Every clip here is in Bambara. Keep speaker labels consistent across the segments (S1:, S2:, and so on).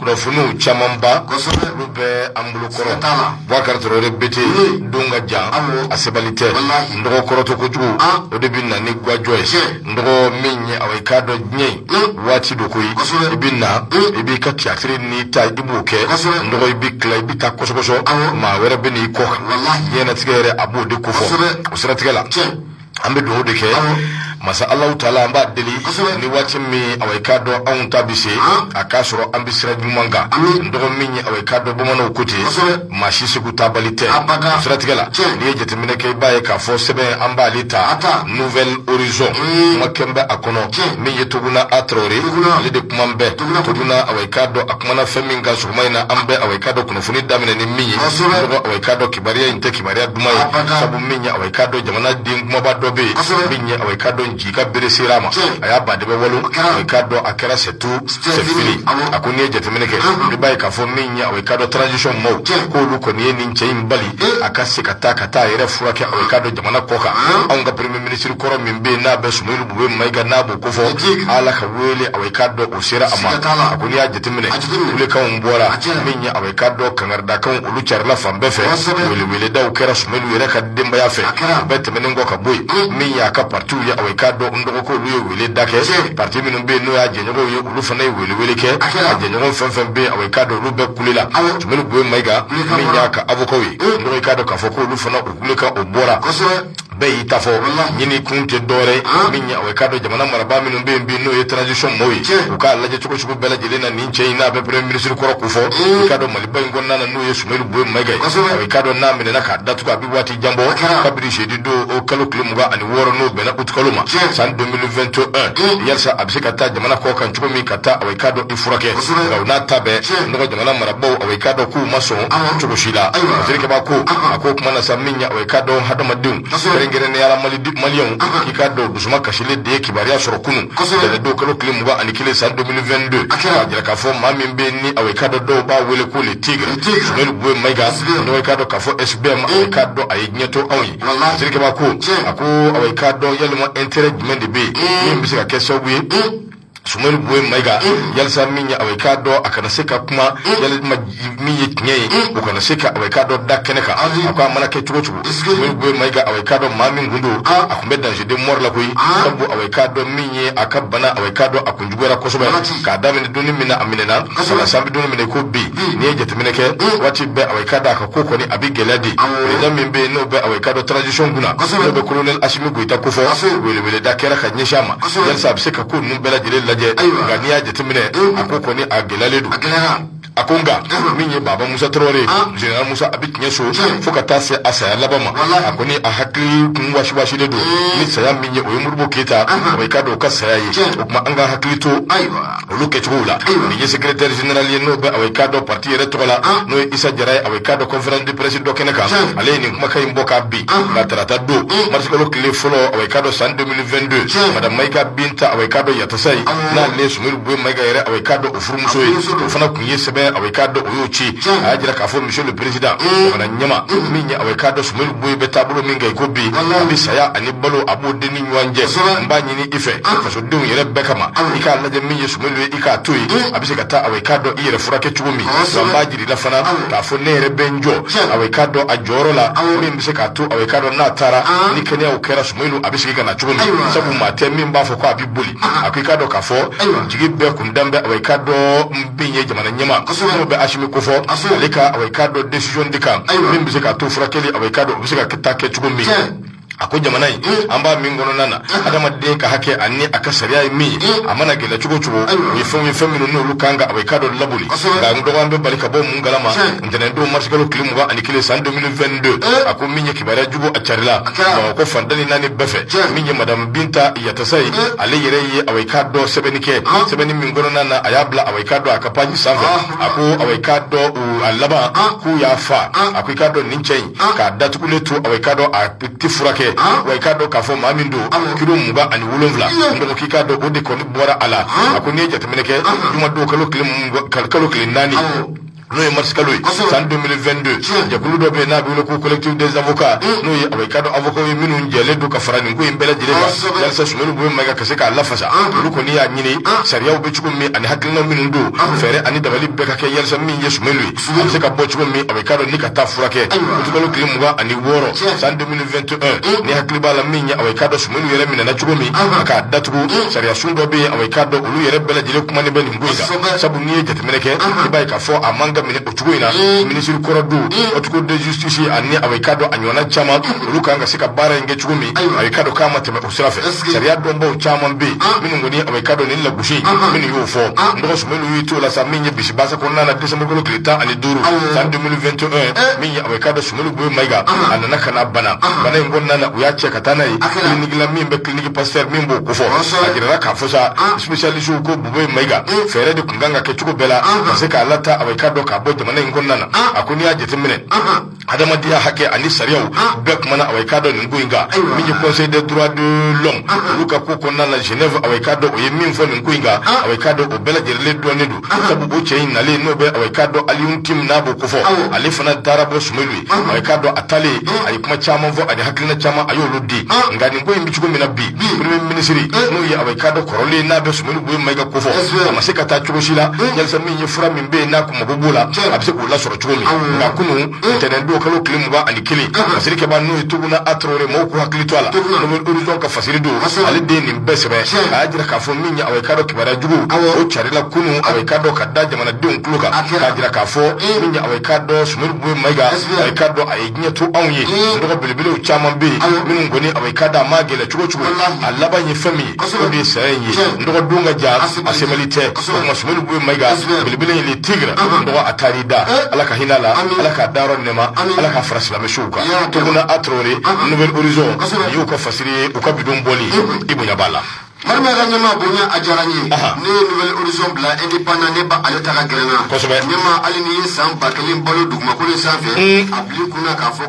S1: kunnafoniw camanba kosɛbɛ olu bɛ an bolo kɔrɔ Siga t'a la. Boubacar Traoré bete Oui. don ka jan Awɔ. a sebali tɛ Walahi. n dɔgɔ kɔrɔtɔ kojugu Ah. o de bɛ na ni gwajɔ ye Tiɲɛ. n dɔgɔ min ye awɔ i k'a dɔn diɲɛ in Mm. waati do koyi Kosɛbɛ. i bɛ na Mm. i b'i ka tiyatiri n'i ta i b'o kɛ Kosɛbɛ. n dɔgɔ i bɛ tila i bɛ taa kɔsɔkɔsɔ Awɔ. maa wɛrɛ bɛ n'i kɔ kan Walahi. diɲɛnatigɛ yɛrɛ a b'o de ko fɔ Kosɛbɛ. o siratigɛ la Tiɲɛ. an bɛ dugawu de kɛ masa Allahu Taala an b'a deli ni waati min awɔ i k'a dɔn anw ta bɛ se a k'a sɔrɔ an bɛ sira ɲuman kan n dɔgɔ min ye awɔ i k'a dɔn bamananw ko ten maa si Segu taabali tɛ o siratigɛ la n'i ye jateminɛ kɛ i b'a ye k'a fɔ sɛbɛn an b'ale ta Nouvel Horizon kuma kɛn bɛ a kɔnɔ min ye Tuguna A Traoré ale de kuma bɛ Tuguna awɔ i k'a dɔn a kumana fɛn min kan sɔgɔma in na an bɛ awɔ i k'a dɔn kunnafoni daminɛ ni min ye n dɔgɔ awɔ i k'a dɔn kibaruya in tɛ kibaruya duman ye sabu min ye i k'a dɔn jamana den kunbaba dɔ bɛ yen min ye awɔ i k'a dɔn ji ka bere sera a ma a y'a badɛbɛ walo i k'a dɔn a kɛra c'est tout c'est fini a ko n'i ye jateminɛ kɛ i b'a ye k'a fɔ min ye awɔ i k'a dɔn transition maaw k'olu kɔni ye nin cɛ in bali a ka se ka taa ka taa a yɛrɛ furakɛ awɔ i k'a dɔn jamana kɔ kan anw ka premier ministre kɔrɔ min bɛ yen n'a bɛ Soumeylou Boubèye Maïga n'a b'o ko fɔ ala ka wele awɔ i k'a dɔn o sera a ma a ko n'i y'a jateminɛ kulekanw bɔra min ye awɔ k'a dɔn kangaridakanw olu carila fan bɛɛ fɛ weleweledaw kɛra Soumeylou yɛrɛ ka denbaya fɛ o bɛɛ tɛmɛnen kɔ ka bɔ yen min y'a ka partiw ye awɔ i k'a dɔn n dɔgɔ ko olu ye wele da kɛ parti minnu bɛ yen n'o y'a jɛɲɔgɔnw ye olu fana ye welewele kɛ a jɛɲɔgɔn fɛn fɛn bɛ yen awɔ i k'a dɔn olu bɛɛ kulela Soumeylou Boubèye Maïga min y'a ka avokaw ye n dɔgɔ i k'a dɔn k'a fɔ ko olu fana u kulekan o bɔra bɛɛ y'i ta fɔ ɲini kun tɛ dɔwɛrɛ min ye awɔ i k'a dɔn jamana marabaa minnu bɛ yen bi n'o ye transition maaw ye u k'a lajɛ cogo cogo bɛɛ lajɛlen na nin cɛ in n'a bɛ premier ministre kɔrɔ ko fɔ i k'a dɔn maliba in kɔnɔna na n'o ye Soumeylou Boubèye Maïga ye awɔ i k'a dɔn n'a minɛna k'a datugu a bɛ waati jan bɔ kabiri jeudi don o kalo tile mugan ani wɔɔrɔ n'o bɛnna utikalo ma san 2021 yalisa a bɛ se ka taa jamana kɔ kan cogo min ka taa awɔ i k'a dɔn furakɛ nka o n'a ta bɛɛ n dɔgɔ jamana marabaaw awɔ i k'a dɔn k'u ma sɔn cogo si la jelikɛba ko a ko kumana sa min ye awɔ i k'a dɔn hadamadenw kɛrɛnkɛrɛnnenya la maliyɛnw k'i k'a dɔn dusuma kasilen de ye kibaruya sɔrɔ kunun tɛnɛndon kalo tile mugan ani kelen san 2022 k'a jira k'a fɔ maa min bɛ ni awɔ i k'a dɔn dɔw b'a wele ko le tigre Soumeylou Boubèye Maïga n dɔgɔ i k'a dɔn k'a fɔ SBM awɔ i k'a dɔn a ye diɲɛ to anw ye jelikɛba ko a ko awɔ i k'a dɔn yalima intérêt jumɛn de bɛ yen min bɛ se ka kɛ sababu ye Soumeylou Boubèye Maïga yalisa min ye awɔ i k'a dɔn a kana se ka kuma yalima min ye tiɲɛ ye o kana se ka awɔ i k'a dɔn da kɛnɛ kan a ko a mana kɛ cogo cogo Soumeylou Boubèye Maïga awɔ i k'a dɔn maa min kun don a kun bɛ danger de mort la koyi sabu awɔ i k'a dɔn min ye a ka bana awɔ i k'a dɔn a kun juguyara kosɛbɛ k'a daminɛ don ni min na a minɛna ka na s'an bɛ don ni min na i ko bi n'i ye jateminɛ kɛ waati bɛɛ awɔ i k'a dɔn a ka ko kɔni a bɛ gɛlɛya de président min bɛ yen n'o bɛ awɔ i k'a dɔn transition kunna n'o bɛ colonel Assimi ita kofɔ weleweleda kɛra ka ɲɛsin a ma yalisa a bɛ se ka ko ninnu bɛɛ lajɛlen lajɛ nka n'i y'a jateminɛ a ko kɔni a gɛlɛyalen don a ko nka min ye baba musa tarawele général musa a bɛ tiɲɛ so fo ka taa se a saya laban ma a kɔni a hakili kun wasiwasilen don ni saya min ye o ye modibo keyita awa i k'a dɔn o ka saya ye o tuma an ka hakili to olu kɛcogow la min ye secrétaire général ye n'o bɛ awa i k'a dɔn parti yɛrɛ tɔgɔ la n'o ye isa jara ye awa i k'a dɔn conférence de presse dɔ kɛnɛ kan ale ye nin kumakan in bɔ k'a bin nka tarata don marisikalo tile fɔlɔ awa i k'a dɔn san 2022 madame mayiga binta awa i k'a dɔn yatasaye n'ale ye sumeyilu boye mayiga yɛrɛ awa i k'a dɔn o furumuso ye o fana kun ye sɛbɛn awa i k'a dɔn o y'o ci a y'a jira k'a fɔ monsieur le président jamana ɲɛmaa min ye awa i k'a dɔn sumeyilu boye bɛ taabolo min kan i ko bi a bɛ saya ani balo a b'o de ni ɲɔgɔn cɛ n b'a ɲini i fɛ faso denw yɛrɛ bɛɛ kama i k'a lajɛ min ye sumeyilu ye i k'a to yen a bɛ se ka taa awa i k'a dɔn i yɛrɛ furakɛ cogo min wa n b'a jira i la fana k'a fɔ ne yɛrɛ bɛ n jɔ awa i k'a dɔn a jɔyɔrɔ la min bɛ se k'a to awa i k'a dɔn n'a taara ni kɛnɛyaw kɛra sumeyilu a bɛ segin ka na cogo min sabu maa tɛ min b'a fɔ ko a bɛ boli a ko i k'a dɔn k'a fɔ jigi bɛɛ kun dalen bɛ awa i k'a dɔn min ye jamana ɲɛmaa n'o bɛ asimi kofɔ ale ka awa i k'a dɔn décision de kan min bɛ se k'a to furakɛli awa i k'a dɔn o bɛ se ka taa kɛ cogo min a ko jamana in an b'a min kɔnɔna na adamaden ka hakɛ ani a ka sariya ye min ye a mana gɛlɛya cogo o cogo u ye fɛnw ye fɛn minnu n'olu kan ka awa i k'a dɔn laboli nka n dɔgɔ an bɛ bali ka bɔ mun kalama ntɛnɛndon marisikalo tile mugan ani kelen san 2022 a ko min ye kibaruya jugu a carila bamakɔ fan tan ni naani bɛɛ fɛ min ye madamu binta yatasaye ale yɛrɛ ye awa i k'a dɔn sɛbɛnni kɛ sɛbɛnni min kɔnɔna na a y'a bila awa i k'a dɔn a ka page sanfɛ a ko awa i k'a dɔn a laban k'u y'a faa a ko i k'a dɔn nin cɛ in k'a datugulen to awa i k'a dɔn a tɛ furakɛ awa i k'a dɔn k'a fɔ maa min don kilo mugan ani wolonwula n dɔgɔ k'i k'a dɔn o de kɔni bɔra a la a ko n'i ye jateminɛ kɛ juma don kalo tile naani n'o ye marisikalo ye san 2022 jɛkulu dɔ bɛ yen n'a bɛ wele ko collectif des avocats n'o ye awa i k'a dɔn avocats ye minnu jɛlen don ka fara nin ko in bɛɛ lajɛlen kan yalisa sumeyilu boye mayiga ka se k'a lafasa olu kɔni y'a ɲini sariyaw bɛ cogo min ani hakilinaw minnu don fɛɛrɛ ani dabali bɛɛ ka kɛ yalisa min ye sumeyilu ye a bɛ se ka bɔ cogo min awa i k'a dɔn ni ka taa furakɛ utikalo tile mugan ani wɔɔrɔ san 2021 n'i hakili b'a la min ye awa i k'a dɔn sumeyilu yɛrɛ minɛna cogo min a k'a datugu sariya sun dɔ bɛ yen awa i k'a dɔn olu yɛrɛ bɛɛ lajɛlen kumanen bɛ nin ko in kan sabu n'i ye jateminɛ kɛ i b'a ye k'a fɔ a man ka minɛ o cogo in na minisiri kɔrɔ don haute cour de justice ani awa i k'a dɔn a ɲɔgɔnna caman olu kan ka se ka baara in kɛ cogo min awa i k'a dɔn k'a ma tɛmɛ sira fɛ sariya dɔnbaw caman bɛ yen minnu kɔni awa i k'a dɔn nin lagosi minnu y'o fɔ n dɔgɔ sumeyilu tola sa min ye bisi baasa kɔnɔna na desanburukalo tile tan ani duuru san 2021 min ye awa i k'a dɔn sumeyilu boye mayiga a nana ka na bana bana in kɔnɔna na u y'a cɛ ka taa n'a ye kiliniki la min bɛ kiliniki pasitɛri min b'o kofɔ a jirala k'a fɔ sa sipesiyalisiw ko bubɛyi mayiga fɛɛrɛ de tun kan ka kɛ cogo bɛɛ la ka se k'a lataa awa i k'a dɔn k'a bɔ jamana in kɔnɔna na a ko n'i y'a jateminɛ adamadenya hakɛ ani sariyaw ah. bɛɛ kumana awa i k'a dɔn nin ko in kan min ye conseil des droits de l'homme ah. olu ka ko kɔnɔna na genève awa i k'a dɔn o ye min fɔ nin ko in kan ah. awa i k'a dɔn o bɛɛ lajɛlen dɔnnen don sabu o cɛ in nalen n'o bɛ awa i k'a dɔn aliyun tin n'a b'o kofɔ ale fana taara bɔ sumelu ye awa i k'a dɔn a taalen a ye kuma caman fɔ ani hakilina caman a y'olu di nka nin ko in bɛ cogo min na bi premier minisiri eh. n'o ye awa i k'a dɔn kɔrɔlen n'a bɛ sumelu bubɛyi mayiga kofɔ a ma se ka taa cogo si la yalisa min ye fura min bɛ yen n'a kun mago b'o la a bɛ se k'o lasɔrɔ cogo min nka kunu ntɛnɛn don kalo tile mugan ani kelen fasiri kɛbaa n'o ye tuguna a traore mɔgɔw k'u hakili to a la nouvel horizon ka fasiri don ale de ye nin bɛɛ sɛbɛn a y'a jira k'a fɔ min ye awa i k'a dɔn kibaruya jugu o carila kunu awa i k'a dɔn ka da jamanadenw tulo kan k'a jira k'a fɔ min ye awa i k'a dɔn sumelu bubɛyi mayiga awa i k'a dɔn a ye diɲɛ to anw ye dɔgɔ belebelew caman bɛ yen minnu kɔni awa i k'a dɔn a ma gɛlɛ cogo o cogo a laban ye fɛn min ye o de ye saya in ye dɔgɔ don ka jan a sebali tɛ o tuma sumelu bubɛyi mayiga belebele in le tigre dɔgɔ a taar'i da ala ka hinɛ a la ala k'a da yɔrɔ nɛma ala k'a fara silamɛsuw kan tuguna a traore nouvel horizon nin y'u ka fasiri ye u ka bi don bɔli i bonya b'a la marima ka
S2: ɲɛma bonya a diyara n ye ne ye nouvel horizon bila indépendant ne b'ale ta ka gɛrɛ n na kosɛbɛ ɲɛma hali n'i ye san ba kelen balo dugumakolo in sanfɛ a bil'i kun na k'a fɔ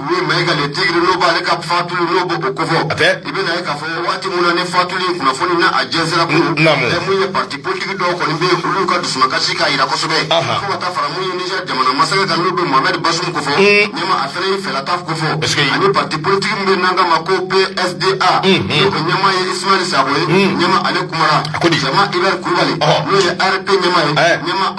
S2: yi mayiga le tigre n'o b'ale ka fatuli n'o b'o kofɔ a i bɛn'a ye k'a fɔ waati min na nin fatuli kunnafoni na a jɛnsɛnna kun min ye pati politigi dɔw kɔni bɛ yen olu ka dusumakasi k'a jira kosɛbɛ fo ka taa fara min ye niger jamana masakɛ kan n'o bɛ mohamed bazoum kofɔ ɲɛma a fana y'i fɛla ta kofɔ ani pati politigi min bɛ yen n'an k'a ma ko psda n'o ɲɛmaa ye ismaël sakɔ ye ɲɛma ale kumara cɛman hubert kulubali n'o ye arp ɲɛmaa ye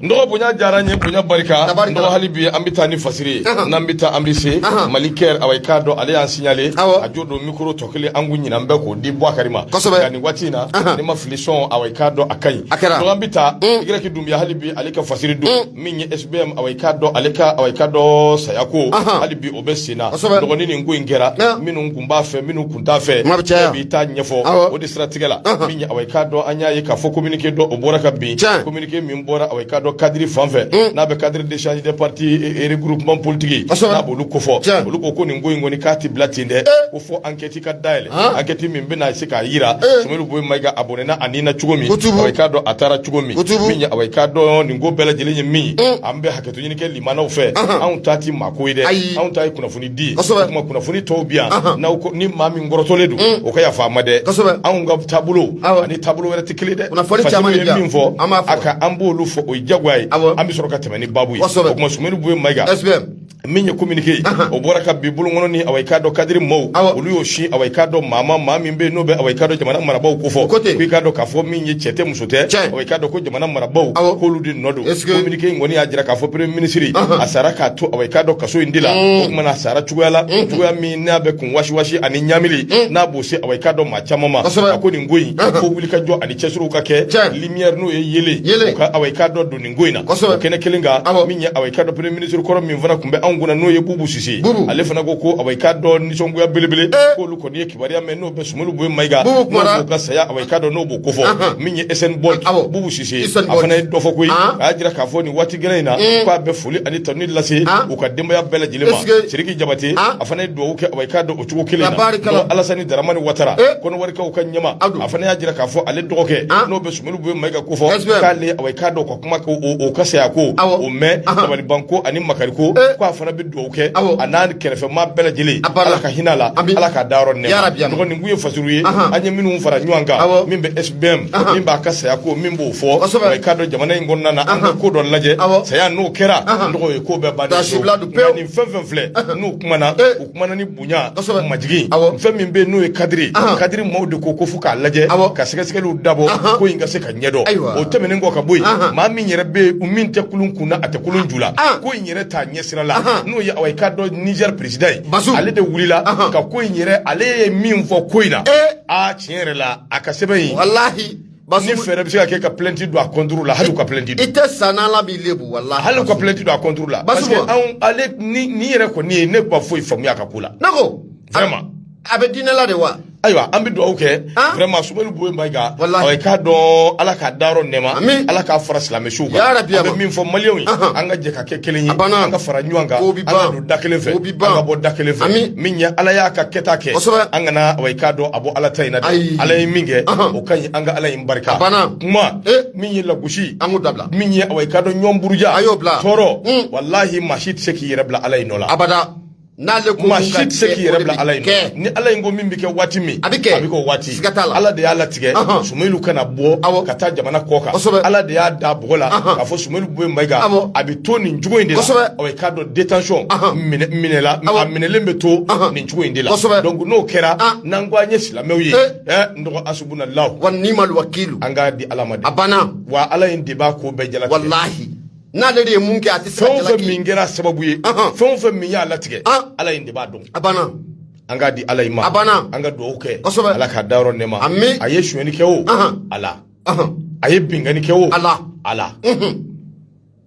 S2: n dɔgɔ bonya diyara n
S1: ye bonya barika n Tabarikala. dɔgɔ hali bi an bɛ taa ni fasiri ye Ahan. n'an bɛ taa an bɛ se Ahan. mali kɛr awa i k'a dɔn ale y'an signalé Awɔ. a jo don mikoro tɔ kelen an kun ɲinanen bɛ k'o di buwakari ma Kosɛbɛ. nka nin waati in na Ahan. ni maa fili sɔn awa i k'a dɔn a ka ɲi A kɛra. donc an bɛ taa igirɛki dunbiya hali bi ale ka fasiri don min ye sbm awa i k'a dɔn ale ka awa i k'a dɔn saya ko Ahan. hali bi o bɛ sen na Kosɛbɛ. dɔgɔ ni nin ko in kɛra Ahan. minnu kun b'a fɛ minnu kun t'a fɛ Kuma bɛ caya. bɛɛ b'i ta ɲɛfɔ Awɔ. o de siratigɛ la Ahan. min ye awa i k'a dɔn an y'a ye k'a fɔ communiqué dɔ o bɔra ka bin Tiɲɛ. Communiqué ke min bɔra awa i k'a dɔn cadre fan fɛ hmm. n'a bɛ cadre d'échange des partis et regroupements politiques n'a b'olu kofɔ olu ko ko nin ko in kɔni k'a tɛ bila ten dɛ eh. ko fo enquête ka dayɛlɛ ah. enquête min bɛna se k'a jira eh. Sumelu Bubɛyi Mayiga a bɔnɛna a ni na cogo min awa i k'a dɔn a taara cogo min min ye awa i k'a dɔn nin ko bɛɛ lajɛlen ye min ye hmm. an bɛ hakɛto ɲini kɛ limanaw fɛ anw ta tɛ maako ye dɛ anw ta ye kunnafoni di kuma kunnafoni tɔw bi yan n'aw ko ni maa min kɔrɔtɔlen don mm. o ka yafa an ma dɛ anw ka taabolo ani taabolo wɛrɛ tɛ kelen dɛ kunnafoni caman ye min fɔ a ka an b'olu fɔ o ye jagoya ye an bɛ sɔrɔ ka tɛmɛ ni baabu ye o kuma sumelu bubɛyi mayiga min ye communiqué ye o bɔra ka bin bulon kɔnɔ ni awa i k'a dɔn cadre maaw olu y'o sin awa i k'a dɔn maa ma maa min bɛ yen n'o bɛ awa i k'a dɔn jamana marabaaw kofɔ ko i k'a dɔn k'a fɔ min ye cɛ tɛ muso tɛ awa i k'a dɔn ko jamana marabaaw k'olu de nɔ don kominike in kɔni y'a jira k'a fɔ premier minisiri a sara k'a to awa i k'a dɔn kaso in de la mm. o kumana a sara cogoya la mm. cogoya min n'a bɛ kun wasiwasi ani ɲamili mm. n'a b'o se awa i k'a dɔn maa caman ma a ko nin ko in uh-huh. fo wulikajɔ ani cɛsiriw ka kɛ lumière n'o ye yeelen o ka awa i k'a dɔn don nin ko in na o kɛnɛ kelen kan min ye awa i k'a dɔn premier minisiri kɔrɔ min fana tun bɛ anw kunna n'o ye bubu sise ale fana ko ko awa i k'a dɔn nisɔngoya belebele eh. k'olu kɔni ye kibaruya mɛn n'o bɛ Sumelu Bubɛyi Mayiga n'o ka saya awa i k'a dɔn n'o b'o kofɔ Ahan. min ye SBM Awɔ. Bubu Sise a fana ye dɔ fɔ koyi An. a y'a jira k'a fɔ nin waati gɛlɛn in na k'a bɛ foli ani tanuni lase An. u ka denbaya bɛɛ lajɛlen ma Est-ce que- Sidiki Jabate An. a fana ye dugawu kɛ awa i k'a dɔn o cogo kelen na Tabarikala. Donc, Alasani Daramani Watara Eh. Kɔnɔwarikaw ka ɲɛmaa ADO. a fana y'a jira k'a fɔ ale dɔgɔkɛ An. n'o bɛ Sumelu Bubɛyi Mayiga kofɔ Est-ce que- k'ale awa i k'a dɔn o ka kuma ko o ka saya ko o mɛn dabaliban ko ani makari ko eh. ko a fana bɛ dugawu kɛ a n'a kɛrɛfɛmaa bɛɛ lajɛlen ala ka hinɛ a la ala k'a dayɔrɔ nɛɛma n dɔgɔ nin kun ye fasuru ye an ye minnu fara ɲɔgɔn kan min bɛ sbm min b'a ka saya ko min b'o fɔ i k'a dɔn jamana in kɔnɔna na an ka ko dɔ lajɛ saya n'o kɛra n dɔgɔ e ko bɛɛ ban nin fɛn fɛn filɛ n'u kumana eh. u kumana ni bonya kosɛbɛ majigin awɔ fɛn min bɛ n'o ye kadiri kadiri maaw de ko ko fo k'a lajɛ awɔ ka sɛgɛsɛgɛliw dabɔ ko in ka se ka ɲɛdɔn ayiwa o tɛmɛnen kɔ ka bɔ yen maa min yɛrɛ bɛ yen min tɛ kulun kun na a tɛ kulun ju la ko in yɛrɛ t'a ɲɛsira la n'o ye awa i k'a dɔn nizɛri perezidan ye bazumu ale de wulila ka ko in yɛrɛ ale ye min fɔ ko in na ee aa tiɲɛ yɛrɛ la a ka sɛbɛn in walahi Parce que ni fɛɛrɛ bɛ se ka kɛ ka plainte don a contre la hali u ka plainte don. I tɛ sa n'Ala m'i lebu walahi. Hali u ka plainte don a contre la. Parce que anw ale nin nin yɛrɛ kɔni ye ne ma foyi faamuya a ka ko la. Ne ko. Vraiment. A bɛ diinɛ la de wa? ayiwa an bɛ dugawu kɛ vraiment sumelu bubɛyi mayiga i k'a dɔn ala k'a dayɔrɔ nɛɛma ala k'a fara silamɛsuw kan an bɛ min fɔ maliyɛnw ye an ka jɛ ka kɛ kelen ye an ka fara ɲɔgɔn kan an ka don da kelen fɛ an ka bɔ da kelen fɛ min ye ala y'a ka kɛta kɛ an kana i k'a dɔn a bɔ ala ta in na dɛ ala ye min kɛ ka ɲi an ka ala in barika banna kuma eh. min ye lagosi an k'o dabila min ye awa i k'a dɔn ɲɔgɔn buruja a y'o bila tɔɔrɔ hmm. walahi maa si tɛ se k'i yɛrɛ bila ala in nɔ la abada n'ale ko maa si tɛ se k'i yɛrɛ bila ala in nɔ ni ala in ko min bɛ kɛ waati min a bɛ kɛ a bɛ kɛ o waati siga t'a la ala de y'a latigɛ sumelu kana bɔ awɔ ka taa jamana kɔ kan kosɛbɛ ala de y'a da bɔgɔ la k'a fɔ sumelu bubɛyi mayiga awɔ a bɛ to nin cogo in de la kosɛbɛ awɔ i k'a dɔn détention minɛ minɛ la a minɛlen bɛ to nin cogo in de la kosɛbɛ donc n'o kɛra n'an ko an ye silamɛw ye eh. Eh, n dɔgɔ asubunalahu wa nimal wakilu an k'a di ala ma de a banna wa ala in de b'a ko bɛɛ jalatigɛ walahi n'ale de ye min kɛ a tɛ se ka jalaki fɛn o fɛn min kɛra sababu ye fɛn o fɛn min y'a latigɛ ala in de b'a dɔn a banna an k'a di ala in ma a banna an ka dugawu kɛ kosɛbɛ ala k'a dayɔrɔ nɛɛma ami a ye sonyɛni kɛ o ala a ye binkanni kɛ o ala ala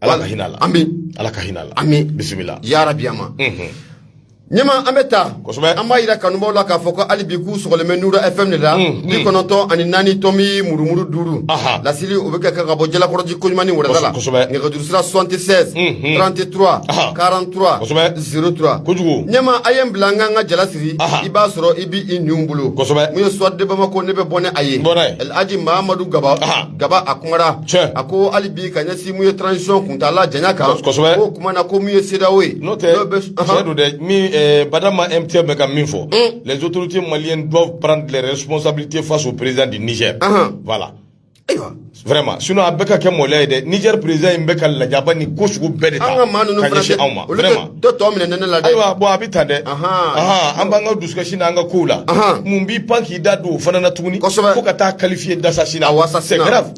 S1: ala ka hinɛ la ami ala ka hinɛ la ami bisimila ya rabi ama ɲɛma an bɛ taa kosɛbɛ an b'a yira kanubaaw la k'a fɔ ko hali bi k'u sɔgɔlen bɛ nura fm de la bi kɔnɔntɔn ani naani tomi murumuru duuru lasili o bɛ kɛ ka bɔ jalakɔrɔji koɲumani wɛrɛda la kosɛbɛ nɛgɛjurusira 76 33 43 kosɛbɛ 03 kojugu ɲɛma a ye n bila an k'an ka jala siri i b'a sɔrɔ i b'i i ninw bolo kosɛbɛ mun ye soir de bamako ne bɛ bɔ ni a ye bɔnɛ alhaji mahamadu gaba gaba a kumara Tiɲɛ. a ko hali bi ka ɲɛsin mun ye transition kuntaala janya kan Kos- kosɛbɛ. o kuma na ko mun ye CEDEAO ye N'o tɛ, N'o bɛ- tiɲɛ don dɛ, min, eh, Badama MTM bɛ ka min fɔ, les autorités maliennes doivent prendre les responsabilités face au président du Niger. Ahan. Voilà. ayiwa Vraiment. Sinon, a bɛ ka kɛ maloya ye dɛ. Niger président in bɛ ka lajabani ko sugu bɛɛ de ta an ka maa ninnu ka fana ɲɛsin tɛ- anw ma. olu tɛ- Vraiment. dɔ tɔ minɛ ne la dɛ ayiwa bɔn a bɛ tan dɛ an b'an ka dusukasi n'an ka kow la mun b'i pan k'i da don o fana na tuguni kosɛbɛ fo ka taa qualifier d'assassinat wa ça c'est grave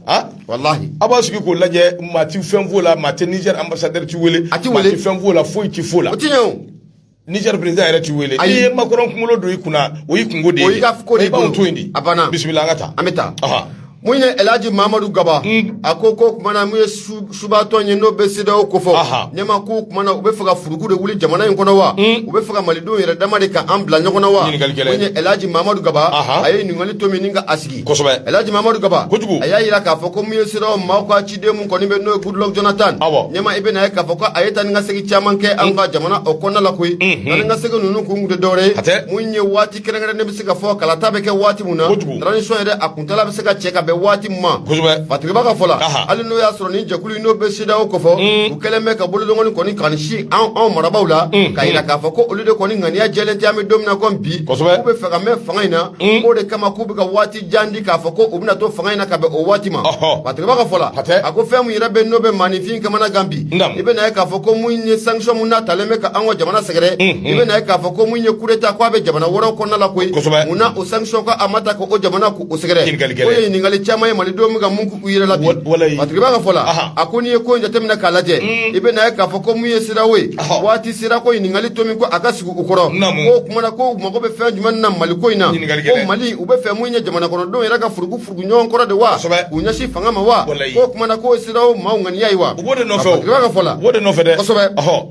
S1: ah walahi a b'a sigi k'o lajɛ maa ti fɛn f'o la maa tɛ Niger ambassadeur ti wele a ti wele maa ti fɛn f'o la foyi ti f'o la o ti ɲɛ o Niger président yɛrɛ ti wele n'i ye Macron kunkolo don i kunna o y'i kunko de ye o y'i ka ko de ye i b'anw to yen de a banna bisimila an ka taa an bɛ taa mun ye elaji mamadu gaba mm. a ko ko kuma na mun ye subatɔn ye n'o bɛ CEDEAO kofɔ ɲɛma ko kuma na u bɛ fɛ ka furuku de wuli jamana in kɔnɔ wa mm. u bɛ fɛ ka malidenw yɛrɛ dama de ka an bila ɲɔgɔn na wa mun ye elaji mamadu gaba a ye ɲininkali tomi nin ka a sigi elaji mamadu gaba a y'a yira k'a fɔ ko mun ye CEDEAO maaw ka ciden mun kɔni bɛ n'o ye goodluck jonathan ɲɛma i bɛna ye k'a fɔ ko a ye taa ni ka segin caman kɛ an ka mm. jamana o kɔnɔna la koyi taa ni ka segin ninnu kun kun tɛ dɔwɛrɛ ye mun ye waati kɛrɛnkɛrɛnnen bɛ se ka fɔ kalata bɛ kɛ waati min na transition yɛrɛ a kuntaala bɛ se ka cɛ ka bɛn waati mun ma fatigiba ka fɔ la hali n'o y'a sɔrɔ ni jɛkulu in n'o bɛ CEDEAO kofɔ mm. u kɛlen bɛ ka bolokɔni kɔni ka sin anw marabaaw la mm. ka yira k'a fɔ ko olu de kɔni ŋaniya jɛlen tɛ an bɛ don min na ko bi k'u bɛ fɛ ka mɛn fanga in na k'o de kama k'u bɛ ka waati jan di k'a fɔ ko u bɛna to fanga in na ka bɛn o waati ma Ɔhɔ. Fatigiba ka fɔ la Hatɛ. a ko fɛn min yɛrɛ bɛ n'o bɛ maaninfin kamana gan bi Naamu. i bɛ na ye k'a fɔ ko mun ye sanction mun n'a talen bɛ ka an ka jamana sɛgɛrɛ Mhm. i bɛ na ye k'a fɔ ko mun ye coup d'état ko a bɛ jamana wɛrɛw kɔnɔna la koyi Kosɛbɛ. mun na o sanction ko a ma ta ka o jamana k'o sɛgɛrɛ Ɲininkali gɛlɛn. o ye ɲininkali caman ye malidenw bɛ ka mun k'u yɛrɛ la bi Wa- walayi. Fatigiba ka fɔ la Aha. a ko n'i ye ko in jateminɛ k'a lajɛ i bɛ na ye k'a fɔ ko mun ye CEDEAO ye Ɔhɔ. waati sera ko ɲininkali tomi ko a ka sigi u kɔrɔ Naamu. ko o kuma na ko u mago bɛ fɛn jumɛn na Mali ko in na Ɲininkali ko gɛlɛn. mali u bɛ fɛ mun ye jamana kɔnɔdenw yɛrɛ ka furuku furuku ɲɔgɔn kɔrɔ de wa kosɛbɛ k'u ɲɛsin fanga ma wa walayi k'o kuma na k'o ye CEDEAO maaw ŋaniya ye wa u b'o de nɔfɛ o Fatigeba ka fɔ la u b'o de nɔfɛ dɛ kosɛbɛ ɔhɔ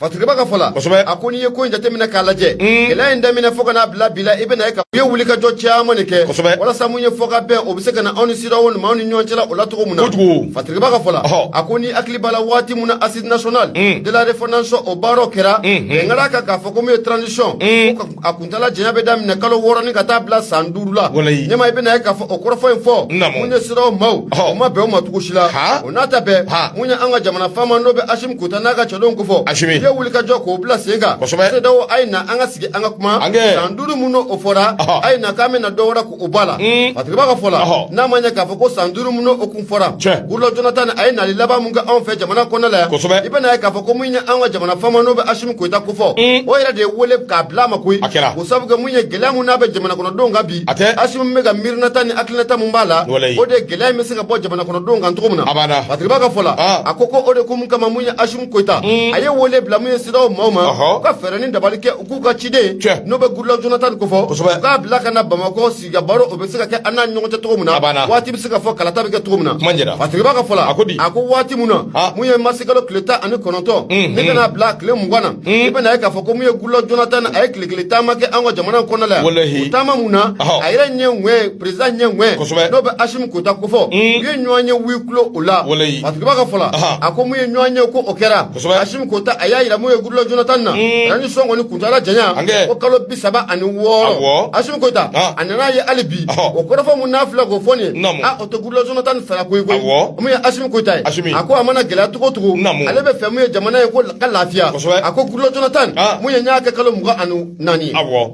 S1: Fatigeba
S2: ka fɔ la kosɛbɛ a ko n'i ye ko in jateminɛ k'a lajɛ gɛlɛya in daminɛ fo ka n'a bila bi la i bɛna ye ka u ye wulikajɔ caman de kɛ kosɛbɛ walasa mun ye fɔkabɛn o bɛ se ka na anw ni CEDEAO ni maaw ni ɲɔgɔn cɛla o la cogo min na kojugu Fatigeba ka fɔ la ɔhɔ a ko n'i hakili b'a la waati min na assises nationales de la refondation o baaraw kɛra bɛn kɛr'a kan k'a fɔ ko mun ye transition ko ka a kuntaala janya bɛ daminɛ kalo wɔɔrɔ ni ka taa bila san duuru la walayi ɲɛma i bɛna ye k'a fɔ o kɔrɔfɔ in fɔ Naamu. mun ye CEDEAO maaw Ɔhɔ. o ma bɛn o ma cogo si la Ha. o n'a ta bɛɛ Ha. mun ye an ka jamana faama n'o bɛ Asimi Goyita n'a ka cɛdenw ko fɔ Asimi. i ye wuli ka jɔ k'o bila sen kan Kosɛbɛ. CEDEAO a ye na an ka sigi an ka kuma An kɛ. san duuru mun n'o fɔra Ɔhɔ. a ye na k'an bɛna dɔ wɛrɛ O b'a la fasirikɛba ka fɔ la n'a ma ɲɛ k'a fɔ ko san duuru min n'o kun fɔra Goodluck Jonathan a ye nali laban min kɛ anw fɛ jamana kɔnɔ la yan i bɛna ye k'a fɔ ko min ye an ka jamana faama n'o bɛ Asimi Goyita ko fɔ o yɛrɛ de ye weele k'a bila ma koyi ko sabu kɛ min ye gɛlɛya min n'a bɛ jamana kɔnɔdenw kan bi Asimi bɛ ka miirinata ni hakilinata min b'a la o de gɛlɛya in bɛ se ka bɔ jamana kɔnɔdenw kan cogo min na fasirikɛba ka fɔ la a ko o de ko mun kama mun ye Asimi Goyita a ye weele bila min ye CEDEAO maaw ma ka fɛɛrɛ ni dabali kɛ k'u ka ciden n'o bɛ Goodluck Jonathan ko fɔ k'a bila ka na bamakɔ sigi ka baro o bɛ se ka kɛ an n'a ɲɔgɔn cɛ cogo min na waati bɛ se ka fɔ kalata bɛ kɛ cogo min na fasirikɛba ka fɔ la a ko waati min na mun ye marisi kalo tile tan ani kɔnɔntɔn ni ka n'a bila tile mugan na i bɛna ye k'a fɔ ko mun ye Goodluck Jonathan a ye tile kelen taama kɛ an ka jamana kɔnɔ la yan taama min na a yɛrɛ ɲɛ perezidan ɲɛ n'o bɛ Asimi Goyita ko fɔ u ye ɲɔgɔn ye huis clos o la fasirikɛba ka fɔ la a ko mun ye ɲɔgɔn ye ko o kɛra Asimi Goyita a y'a jira min ye Goodluck Jonathan na, un, transition kɔni kuntaala janya, hankɛ, ko kalo bi saba ani wɔɔrɔ, awɔ, Asimi Goyita, an, a nana ye hali bi, ɔhɔ, o kɔrɔfɔ min n'a filɛ k'o fɔ nin ye, naamu, a o tɛ Goodluck Jonathan sara ko ye koyi, awɔ, min ye Asimi Goyita ye, Asimi, a ko a mana gɛlɛya cogo o cogo, naamu, ale bɛ fɛ min ye jamana ye k'o ka lafiya, kosɛbɛ, a ko Goodluck Jonathan, an, min ye n y'a kɛ kalo mugan ani naani ye, awɔ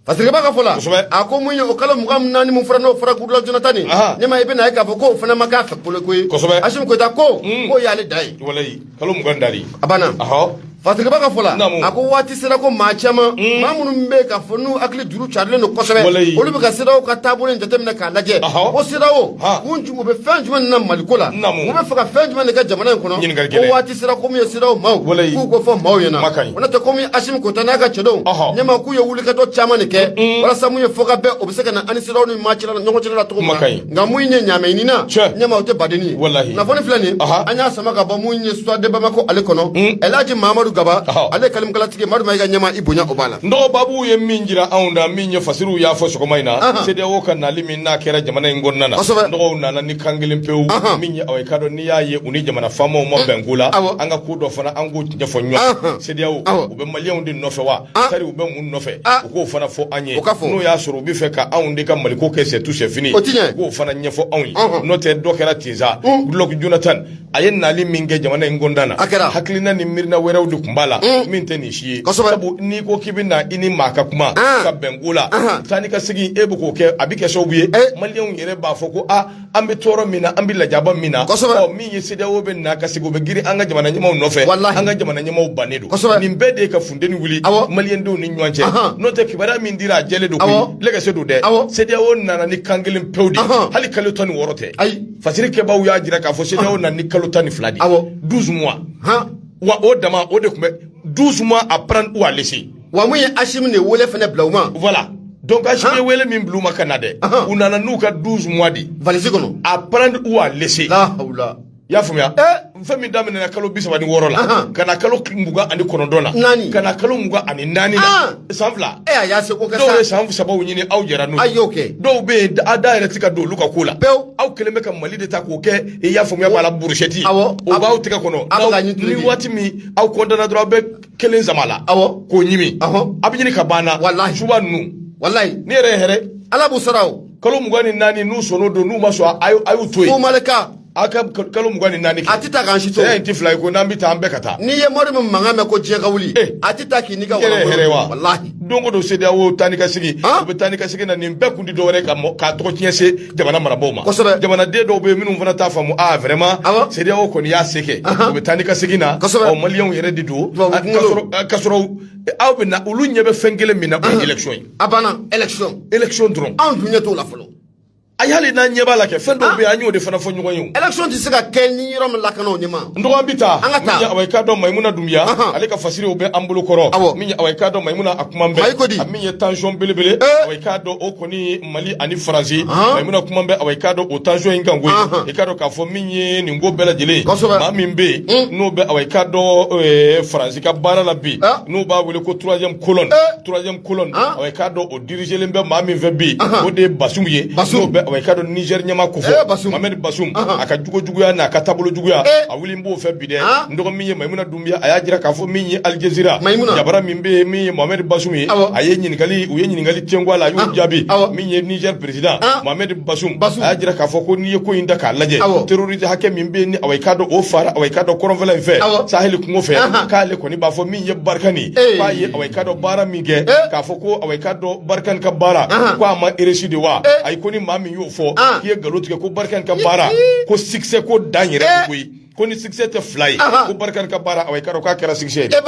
S2: fasirikɛba ka fɔ la a ko mun ye o kalo mugan ni naani mun fɔra n'o fɔra Goodluck Jonathan ye ɲɛma i bɛna ye k'a fɔ k'o fana ma k'a fɛ kolo koyi Asimi Goyita ko hmm. k'o y'ale da ye kalo mugan dali
S3: a banna
S2: fasirikɛba ka fɔ la a ko waati sera ko maa caman hmm. maa minnu bɛ k'a fɔ n'u hakili juru carilen don kosɛbɛ olu bɛ ka CEDEAO ka taabolo in jateminɛ k'a lajɛ ko CEDEAO u bɛ fɛn jumɛn na maliko la u bɛ fɛ ka fɛn jumɛn de kɛ jamana in kɔnɔ sera ko mun ye CEDEAO maaw k'u ko fɔ maaw ɲɛna o n'o tɛ ko mun ye Asimi Goyita n'a ka cɛdenw ɲɛma k'u ye wulikajɔ caman de kɛ walasa mun ye fɔ ka bɛn o bɛ se ka na ani CEDEAO ni maa cɛla ɲɔgɔn cɛla la cogo min na nka mun ye ɲaamɛ ɲini na ɲɛma o tɛ badenni ye kunnafoni filɛ nin an y'a sama ka bɔ mun ye Soir de Bamako ale kɔnɔ ɛlaji mahamadu gaba ale kalimukalatigi madu mayiga ɲɛma i bonya o b'a la n dɔgɔ babu ye
S3: min jira anw na min ye fasiriw y'a fɔ sɔgɔma in na sedeyawo ka nali min n'a kɛra jamana in kɔnɔna na n dɔgɔw nana ni kan kelen pewu min ye aw ye ka dɔn n'i y'a ye u ni jamana faamaw ma bɛn ko la an ka ko dɔn fana an k'o ɲɛfɔ ɲɔgɔn sedeyaw u bɛ maliyɛnw de nɔfɛ wa sari u bɛ mun nɔfɛ u k'o fana fɔ an ye n'o y'a sɔrɔ u bɛ fɛ ka anw de ka maliko kɛ c'est tout c'est fini u k'o fana ɲɛfɔ anw ye n'o tɛ dɔ kɛra ten sa Goodluck Jonathan a ye nali min kɛ jamana in kɔnɔna na hakilina ni miirina wɛrɛw de tun b'a la min tɛ nin si ye sabu n'i ko k'i bɛ na i ni maa ka kuma ka bɛn ko la taa ni ka segin e bɛ k'o kɛ a bɛ kɛ sababu ye maliyɛnw yɛrɛ b'a fɔ ko aa an bɛ tɔɔrɔ min na an bɛ lajaba min na min ye CEDEAO bɛ na ka segin u bɛ girin an ka jamana ɲɛmaaw nɔfɛ an ka jamana ɲɛmaaw bannen don nin bɛɛ de ye ka funteni wuli maliyɛndenw ni ɲɔgɔn cɛ n'o tɛ kibaruya min dira a jɛlen don koyi lɛgɛse don dɛ CEDEAO nana ni kan kelen pewu de hali kalo tan ni wɔɔrɔ tɛ fasiri kɛbaaw y'a jira k'a fɔ CEDEAO nana ni kalo tan ni fila de ye 12 mois wa o dama o de tun bɛ 12 mois à prendre ou à laisser wa mun ye Assimi
S2: de wele fana bila u ma voilà
S3: donc Assimi ye wele min bila u ma ka na dɛ u nana n'u ka 12 mois de valise kɔnɔ
S2: à prendre ou à
S3: laisser la hawla i
S2: y'a faamuya eh,
S3: fɛn min daminɛna kalo bi saba ni wɔɔrɔ la ka na kalo mugan ani kɔnɔntɔn la ka na kalo mugan ani naani la san fila eh, dɔw
S2: ye san saba
S3: ɲini aw jɛra n'o ye dɔw
S2: bɛ yen a da
S3: yɛrɛ tɛ ka don olu ka ko la aw kɛlen bɛ ka mali de ta k'o kɛ i y'a faamuya b'a la brochette o b'aw tɛgɛ kɔnɔ ni waati min aw kɔntana dɔrɔn aw bɛ kelen sama a la awɔ k'o ɲimi awɔ a bɛ ɲini ka banna walahi suba ninnu walahi ne
S2: yɛrɛ
S3: hɛrɛ ala b'u sara o
S2: kalo mugan ni naani n'u
S3: sɔnn'o don n'u ma sɔn a y'u to yen fo Mali k'a ka
S2: kalo
S3: mugan ni naani kɛ a tɛ taa k'an si to
S2: saya in tɛ fila ye ko n'an bɛ
S3: taa an bɛɛ ka taa n'i ye mori min mankan
S2: mɛn ko diɲɛ ka wuli eh. a tɛ taa k'i n'i ka walahi walahi
S3: don o don
S2: CEDEAO
S3: taa ni ka segin u bɛ taa ni ka segin na nin bɛɛ kun tɛ dɔwɛrɛ ka tɔgɔtiɲɛ se jamana marabagaw ma kosɛbɛ jamanaden dɔw bɛ minnu fana t'a faamu aa vraiment CEDEAO kɔni y'a se kɛ u bɛ taa ni ka segin na ɔ maliyɛnw yɛrɛ de don ka sɔrɔ aw bɛ na olu ɲɛ bɛ fɛn kelen min na o ye
S2: élection
S3: ye a
S2: banna
S3: élection élection dɔrɔn anw dun ɲɛ
S2: t'o
S3: la
S2: fɔlɔ
S3: hali n'an ɲɛ b'a la kɛ fɛn dɔw bɛ yen an y'o de fana fɔ ɲɔgɔn ye élection tɛ se ka kɛ
S2: ni yɔrɔ ma lakana o ɲɛ ma n dɔgɔ an bɛ taa
S3: min ye awa i k'a dɔn mayimuna dunbiya ale ka fasiriw bɛ an bolo kɔrɔ awɔ min awa i k'a dɔn mayimuna a kuma bɛ ayi ko di min ye tension belebele awa i k'a dɔn o kɔni Mali ani Faransi Mayimuna kuma bɛ awa i k'a dɔn o tension in kan koyi i k'a dɔn k'a fɔ min ye nin ko bɛɛ lajɛlen kosɛbɛ maa min bɛ yen n'o bɛ awa i k'a dɔn Faransi ka baara la bi n'u b'a wele ko troisième colonne troisième colonne awa i k'a dɔn o diriger len bɛ maa min fɛ bi o de ye Basumu ye n'o bɛ awa i k'a dɔn Niger ɲɛmaa k'o fɔ Mohamed Basumu a ka jogo juguya n'a ka taabolo juguya a wililen b'o fɛ bi dɛ n dɔgɔnin min ye Mayimuna a y'a jira k'a fɔ min ye Al Jazeera jabara min bɛ yen min ye mohamɛdi basum ye a ye ɲininkali u ye ɲininkali tenku a la a y'o ah, jaabi min ye nizɛri perezidan ah. mohamɛdi basum a y'a jira k'a fɔ ko n'i ye ko in da k'a lajɛ terorisi hakɛ min bɛ yen ni awa i k'a dɔn o fara awa i k'a dɔn kɔrɔnfɛla in fɛ saheli kungo fɛ ah, k'ale kɔni b'a fɔ min ye barikani k'a ye awa i k'a dɔn baara min kɛ eh. k'a fɔ ko awa i k'a dɔn barikani ka baara ko a ma réussir de wa eh. ayi ko ni maa min y'o fɔ k'i ye nkalon tigɛ ko barikani ka baara ko succès ko dan yɛrɛ de eh. koyi ko ni succès tɛ fila ye ko barikani ka baara awa i k'a dɔn k'a kɛra succès ye dɛ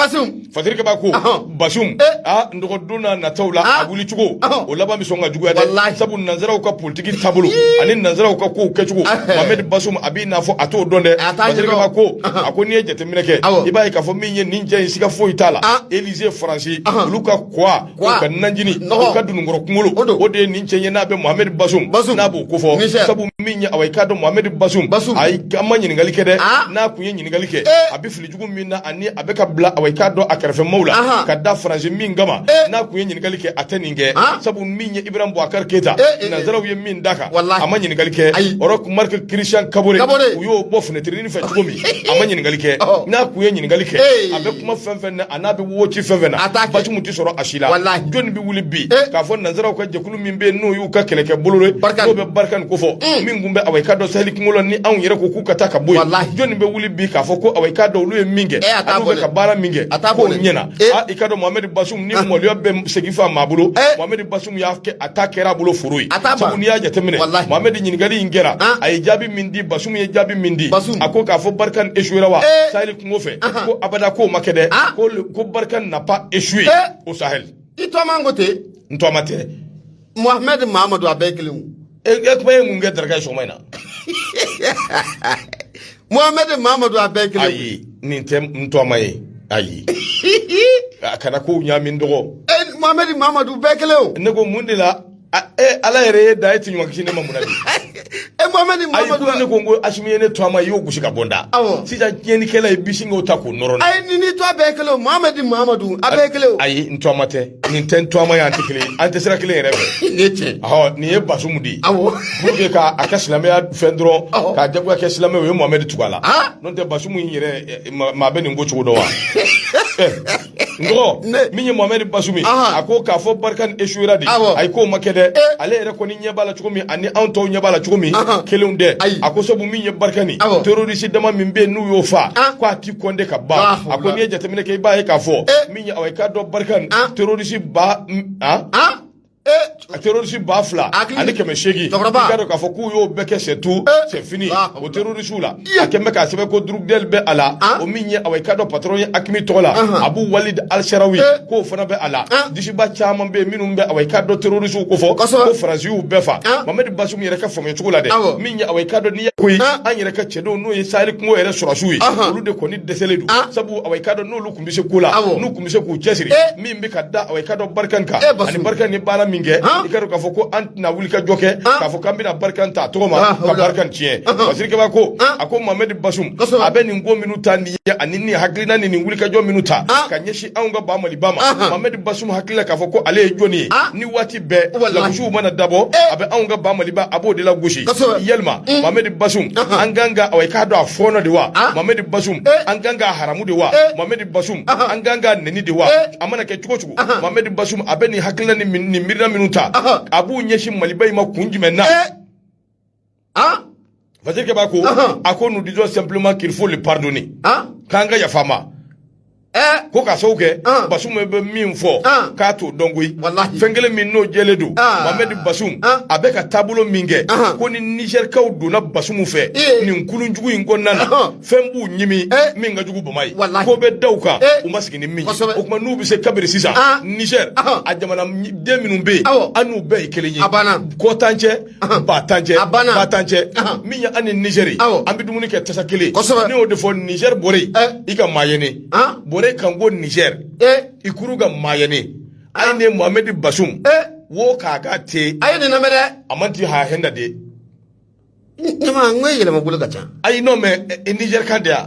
S3: fasirikɛbaa ko basum n dɔgɔ don nataw la a wuli cogo o laban bɛ sɔn ka juguya dɛ sabu nanzaraw ka politiki taabolo ani nanzaraw ka kow kɛcogo mohamed basum a b'i n'a fɔ a t'o dɔn dɛ fasirikɛbaa ko a ko n'i ye jateminɛ kɛ i b'a ye k'a fɔ min ye nin cɛ in siga foyi t'a la Élysée faransi olu ka ko awa Wa? ka nanjini Nɔgɔ. u ka dununkɔrɔ kunkolo O don. o de ye nin cɛ ye n'a bɛ mohamɛdi basum Basum. n'a b'o ko fɔ Misɛn. sabu min ye awa i k'a dɔn mohamɛdi basum Basum. a ye an ma ɲininkali kɛ dɛ Ah. n'a kun ye ɲininkali kɛ Eh. a bɛ fili jugu min na ani a bɛ ka bila awa i k'a dɔn a kɛrɛfɛ maaw la Ahan. ka da faransi min kama Eh. n'a kun ye ɲininkali kɛ a tɛ nin kɛ Ah. sabu min ye ibrahim boubacar keyita Eh, eh, eh. nansaraw ye min d'a kan Walahi. a ma ɲininkali kɛ Ayi. roch marc christian kabore Kabore. u y'o bɔ finɛtirini fɛ cogo min a ma ɲininkali kɛ Ɔhɔ. n'a kun ye ɲininkali kɛ Eh. a bɛ kuma fɛn fɛn na an'a bɛ wo ci fɛn fɛn na basum tɛ sɔrɔ a si la jɔnni bɛ wuli bi eh. k'a fɔ nansaraw ka jɛkulu min bɛ n'o y'u ka kɛlɛkɛ bolo n'o bɛ Barkhane ko fɔ mm. min tun bɛ awa i k'a dɔn saheli kungo la ni anw yɛrɛ ko k'u ka taa ka bɔ yen jɔnni bɛ wuli bi k'a fɔ ko awa i k'a dɔn olu ye min kɛ eh, an'u bɛ ka baara min kɛ k'o ɲɛna eh. ah, i k'a dɔn mohamɛdi basum ni ah. maloya bɛ segi fa maa bolo mohamɛdi basum y'a kɛ a ta kɛra a bolo foro ye sabu n'i y'a jateminɛ mohamɛdi ɲininkali in kɛra ah. a ye jaabi min di basum ye jaabi min di a ko k'a fɔ Barkhane échouera wa kungo fɛ ko abada k'o ma kɛ dɛ ah. ko Barkhane n'a pas échoué eh. au Sahel i tɔma ko
S2: ten n tɔma tɛ
S3: Mohamed
S2: Mamadou a bɛɛ kelen e eh, eh, kuma ye
S3: mun kɛ daraka sɔgɔma in na
S2: Mohamed Mamadou a bɛɛ kelen ayi nin
S3: tɛ n tɔma ye ayi kana kow ɲaami n dɔgɔ Mohamed Mamadou
S2: bɛɛ kelen o ne ko mun de la
S3: A- e ala yɛrɛ ye da e tɛ ɲuman kisi ne ma mun na bi e mohamɛdi
S2: mamadu ayi ko ne ko n ko asimi ye
S3: ne tɔma ye i y'o gosi ka bɔ n da Awɔ. sisan tiɲɛnikɛla i b'i sin k'o ta k'o nɔrɔ a ye ni nin tɔ a bɛɛ
S2: kelen o mohamɛdi mamadu a bɛɛ kelen o ayi n tɔma tɛ
S3: nin tɛ n tɔma ye an tɛ kelen ye. an tɛ sira kelen yɛrɛ fɛ nin ye tiɲɛ
S2: ɔhɔ nin ye
S3: basumu de ye awɔ pour que k'a ka silamɛya fɛn dɔrɔn Awɔ. k'a jagoya kɛ silamɛ o ye mohamɛdi tugu a la Ah. n'o tɛ basumu in yɛrɛ eh, ma- maa bɛ nin ko cogo dɔn wa N ko ne min ye Mohamed Bazoum ye Ahan a ko k'a fɔ Barkhane échouera dɛ awɔ ayi k'o ma kɛ dɛ ee ale yɛrɛ kɔni ɲɛ b'a la cogo min ani anw tɔw ɲɛ b'a la cogo min Ahan kelen tɛ ayi a ko sabu min ye Barkhane awɔ terroriste dama min bɛ yen n'u y'o faa an ko a ti compter ka ban lahawla a ko n'i ye jateminɛ kɛ i b'a ye k'a fɔ ee min ye awa i k'a dɔn Barkhane an terroriste ba un an an a terɔrisi ba fila ani kɛmɛ segin k'a fɔ k'u y'o bɛɛ kɛ c'est tout c'est fini o terɔrisiw la a kɛmɛ k'a sɛbɛn ko Droukdel bɛ a la o min ye awa i k'a dɔn patron ye AQMI tɔgɔ la Abou Walid al-Sahraoui k'o fana bɛ a la disiba caman bɛ minnu bɛ awa i k'a dɔn terɔrisiw ko fɔ ko faransi y'u bɛɛ faa mohamɛdi basum yɛrɛ ka faamuya cogo la dɛ min ye awa i k'a dɔn ni ko an yɛrɛ ka cɛdenw n'o ye saheli kungo yɛrɛ sɔrɔdasiw ye olu de kɔni dɛsɛlen don sabu ka tun bɛ se ko la n'u tun bɛ se k'u cɛsiri min bɛ ka da awa i k'a dɔn Barkhane kan ani Barkhane ye baara min kɛ i k'a dɔn k'a fɔ ko an tɛna wulikajɔ kɛ k'a fɔ k'an bɛna Barkhane ta tɔgɔ ma ka Barkhane tiɲɛ basirikɛba ko a ko mohamɛdi basum a bɛ nin ko minnu ta nin ye ani nin hakilina ni nin wulikajɔ minnu ta ka ɲɛsin anw ka ba maliba ma mohamɛdi basum hakili la k'a fɔ ko ale ye jɔnni ye nin waati bɛɛ wa lagosiw mana dabɔ a bɛ anw ka ba maliba a b'o de lagosi yalima mamadi basum an kan ka awa i k'a dɔn a fɔɔnɔ de wa mamadi basum an kan k'a haramu de wa mamadi basum an kan k'a neni de wa a mana kɛ cogo cogo mamadi basum a bɛ nin hakilina ni miirina minnu ta a b'u ɲɛsin maliba in ma kun jumɛn na ah fasirikɛbaa ko a ko nous disons simplement qu'il faut le pardonner ah k'an ka yafa a ma eh. ko ka sabu kɛ basum bɛ min fɔ k'a t'o dɔn koyi fɛn kelen min n'o jɛlen don mohamɛdi basum a bɛ ka taabolo min kɛ ko ni nizɛrikaw donna basum fɛ eh. nin kulun jugu in kɔnɔna na fɛn b'u ɲimi eh. min ka jugu bama ye ko bɛ da u kan u ma sigi ni min ye o tuma n'u bɛ se kabiri sisan nizɛri a jamanaden minnu bɛ yen an n'u bɛɛ ye kelen ye kɔ t'an cɛ ba t'an cɛ ba t'an cɛ min ye an ni nizeri an bɛ dumuni kɛ tasa kelen ne y'o de fɔ nizeri borey i ga maa ya ne borey kan go nizeri i kuru ga maa ya ne ay ne mohamɛdi basum wo kan a ga te a ye nin lamɛn dɛ
S2: a manti hay hanna de ne ma n ko yɛlɛma bolo ka ca ayi non
S3: mais nizeri kan de yan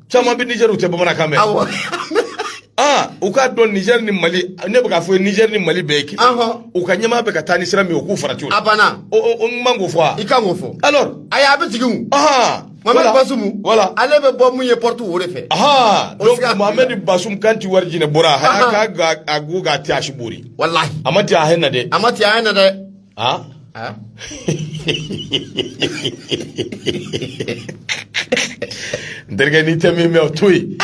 S2: caman bɛ nizɛri u
S3: tɛ bamanankan mɛn
S2: awɔ
S3: aa u k'a dɔn nizɛri ni mali ne bɛ k'a fɔ nizɛri ni mali bɛɛ ye kelen Ahɔn. u ka ɲɛmaa bɛ ka taa ni sira min ye u k'u farati o la a banna o o- o n man
S2: k'o fɔ wa
S3: i kan k'o fɔ alors
S2: ayi a bɛ
S3: jigin
S2: o ahan mamadu voilà. basumu voilà ale bɛ bɔ mun ye porte o de fɛ ahan O donc sira-
S3: mohamed basum kan ti war jine bora Ahan. ha kan a go ga te a si boori walahi a manti
S2: hay hanna de
S3: a manti hay hanna dɛ
S2: Ah.
S3: Ah. n terikɛ n'i tɛ min mɛn o to yen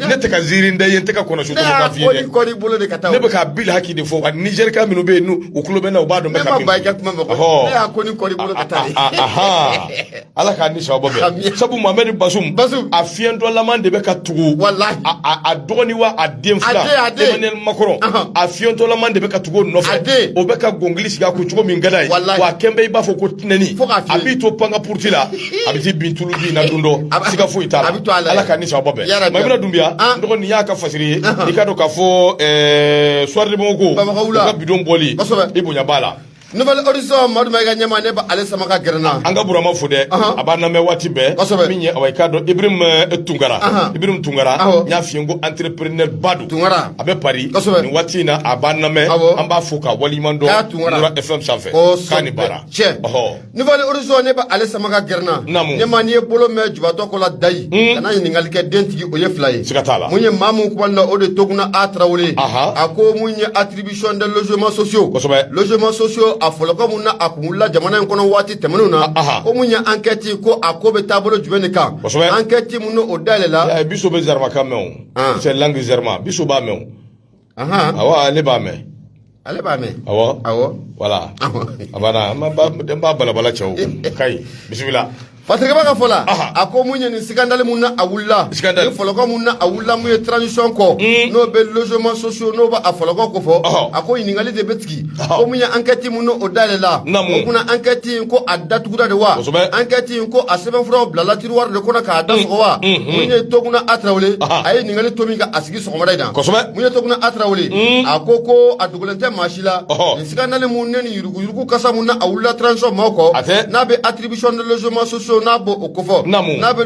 S3: ne tɛ ka ziiri da i ye n tɛ ka kɔnɔsu tɔgɔ ka f'i ye dɛ bolo de ka taa ne bɛ ka bil haki de fɔ wa nizɛrika minnu bɛ yen n'u u tulo bɛ n na u b'a dɔn n bɛ ka min fɔ ne ma ban i ka kuma ma koyi ne y'a ko ni kɔɔri
S2: bolo ka taa ye
S3: ala k'a ni sababa bɛn sabu mamadu basum a fiɲɛtɔlama de bɛ ka tugu a dɔgɔni wa a den fila emmanuel macron a fiɲɛtɔlama de bɛ ka tugu o nɔfɛ o bɛ ka gɔngili sigi a kun cogo min ka d'a ye wa a kɛn bɛ i b'a fɔ ko tinɛni a b'i to pan ka puruti la a bɛ t'i bin tulu bin na don dɔ siga foyi t'a la ala k'a ni sababa bɛn mayimuna dunbiya n dɔgɔ nin y'a ka fasiri ye i k'a dɔn k'a fɔ soir de bamako ko u ka bidon bɔli i bonya b'a la Nouvel
S2: Horizon Madu Maïga ɲɛma ne b'ale sama ka gɛrɛ n na an ka burama fo
S3: dɛ a b'a lamɛn waati bɛɛ kosɛbɛ min ye awa i k'a dɔn Ibrahim eh, Tunkara Ibrahim Tunkara n y'a f'i ye ko entrepreneur ba don Tunkara a bɛ Paris kosɛbɛ nin waati in na a b'a lamɛn an b'a fo ka waliɲuman dɔn Nura FM sanfɛ k'a ni baara cɛ Nouvel
S2: Horizon ne b'ale sama ka gɛrɛ n na naamu ɲɛma n'i ye bolo mɛn jubatɔ ko la dayi hmm. kana ɲininkali kɛ den tigi o ye fila ye siga t'a la mun ye maa mun
S3: kumana o
S2: de Toguna A Tarawele a ko mun ye attribut Attribution des logements sociaux kosɛbɛ logements sociaux a fɔlɔkɔ mun na a kun wulila jamana in kɔnɔ waati tɛmɛnenw na aha ko mun ye enquête ko a ko bɛ taabolo jumɛn de kan Kosɛbɛ. enquête mun n'o dayɛlɛla Eh, biso bɛ zarma kan
S3: mɛn o Ah. c'est langue zarma biso b'a mɛn ahan o awa ne b'a mɛn ale b'a mɛn awɔ awɔ voilà awɔ a banna n b'a- n b'a balabala cɛw ka ɲi bisimila Fatirikɛba ka fɔ
S2: la a ko mun ye nin scandale min na a wulila fɔlɔkɔ min na a wulila mun ye transition kɔ n'o bɛ logements sociaux n'o b'a fɔlɔkɔ ko fɔ a ko ɲininkali de bɛ tigɛ ko mun ye enquête min n'o dayɛlɛla o kunna enquête in ko a datugura de wa enquête in ko a sɛbɛnfuraw bilala tiroir de kɔnɔ k'a da sɔgɔ wa mun ye Toguna A Tarawele a ye ɲininkali tomi ni ka a sigi sɔgɔmada in na mun ye Toguna A Tarawele a ko ko a dogolen tɛ maa si la nin scandale mun ne Yurugu kasa min na a wulila transition maaw kɔ, hatɛ, n'a bɛ attribution de logements sociaux n'a b'o o ko fɔ, naamu, n'a bɛ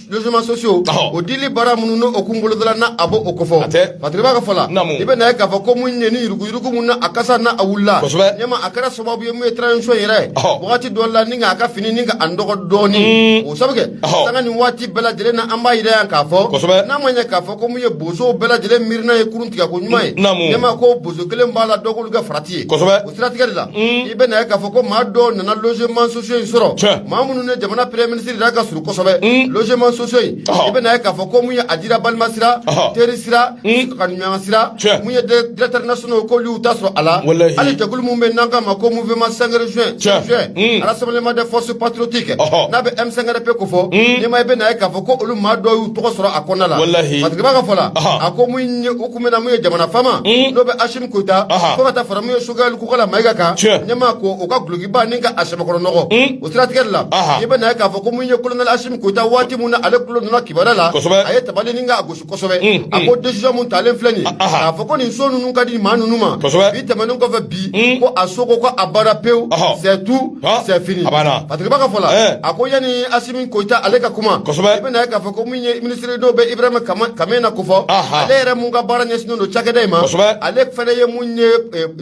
S2: logements sociaux, ɔhɔ, o dili baara minnu n'o kun bolodala na a b'o o ko fɔ, hatɛ, Fatirikɛba ka fɔ la, naamu, i bɛ na ye k'a fɔ ko mun ye ni yurugu yurugu min na a kasa na a wulila, kosɛbɛ, ɲɛma a kɛra sababu ye mun ye transition yɛrɛ, ɔhɔ, wagati dɔ la ni k'a ka fini ni ka a nɔgɔ dɔɔni, o sabu kɛ, ɔhɔ, sanga nin waati bɛɛ lajɛlen na an b'a yira yan k'a fɔ, kosɛbɛ, n'a ma ɲɛ k'a fɔ ko mun ye bozow bɛɛ lajɛlen miirina ye kurun tigɛ ko ɲuman ye, naamu, ɲɛma ko bozo kelen b'a la dɔ k'olu kɛ farati ye, kosɛbɛ. siratigɛ de la i bɛ na ye k'a fɔ ko maa dɔw nana logement sociaux in sɔrɔ maa minnu ni jamana premier ministre yɛrɛ ka surun kosɛbɛ logement sociaux in i bɛ na ye k'a fɔ ko mun ye a dira balima sira teri sira kanuɲɔgɔn sira mun ye directeur nationaux k'olu y'u ta sɔrɔ a la hali jɛkulu min bɛ n'an k'a ma ko mouvement 5 juin juin rassemblement des forces patriotiques n'a bɛ M5RP ko fɔ ɲɛma i bɛ na ye k'a fɔ ko olu maa dɔw y'u tɔgɔ sɔrɔ a kɔnɔna la Fatirikɛba ka fɔ la a ko mun ye u kun bɛ na mun ye jamana faama n'o bɛ Koyita fo ka taa fara min ye Sogɛli Kokala Mayiga kan ɲɛma ko u ka gulokiba ni ka a sɛbɛkɔrɔ nɔgɔ o siratigɛ la i bɛ na ye k'a fɔ ko mun ye kolonɛli Asimi Koyita waati min na ale kulo donna kibaru la a ye tabali ni ka a gosi kosɛbɛ a ko décision mun talen filɛ nin k'a fɔ ko nin so ninnu ka di maa ninnu ma bi tɛmɛnen kɔfɛ bi ko a so ko ko a banna pewu c'est tout c'est fini Fatirikɛba ka fɔ la a ko yanni Asimi Koyita ale ka kuma i bɛ na ye k'a fɔ minisiri n'o bɛ Ibrahima Kamena ko fɔ, anhan, ale yɛrɛ mun ka baara ɲɛsinnen don cakɛda in ma, kosɛbɛ, ale fana ye mun ye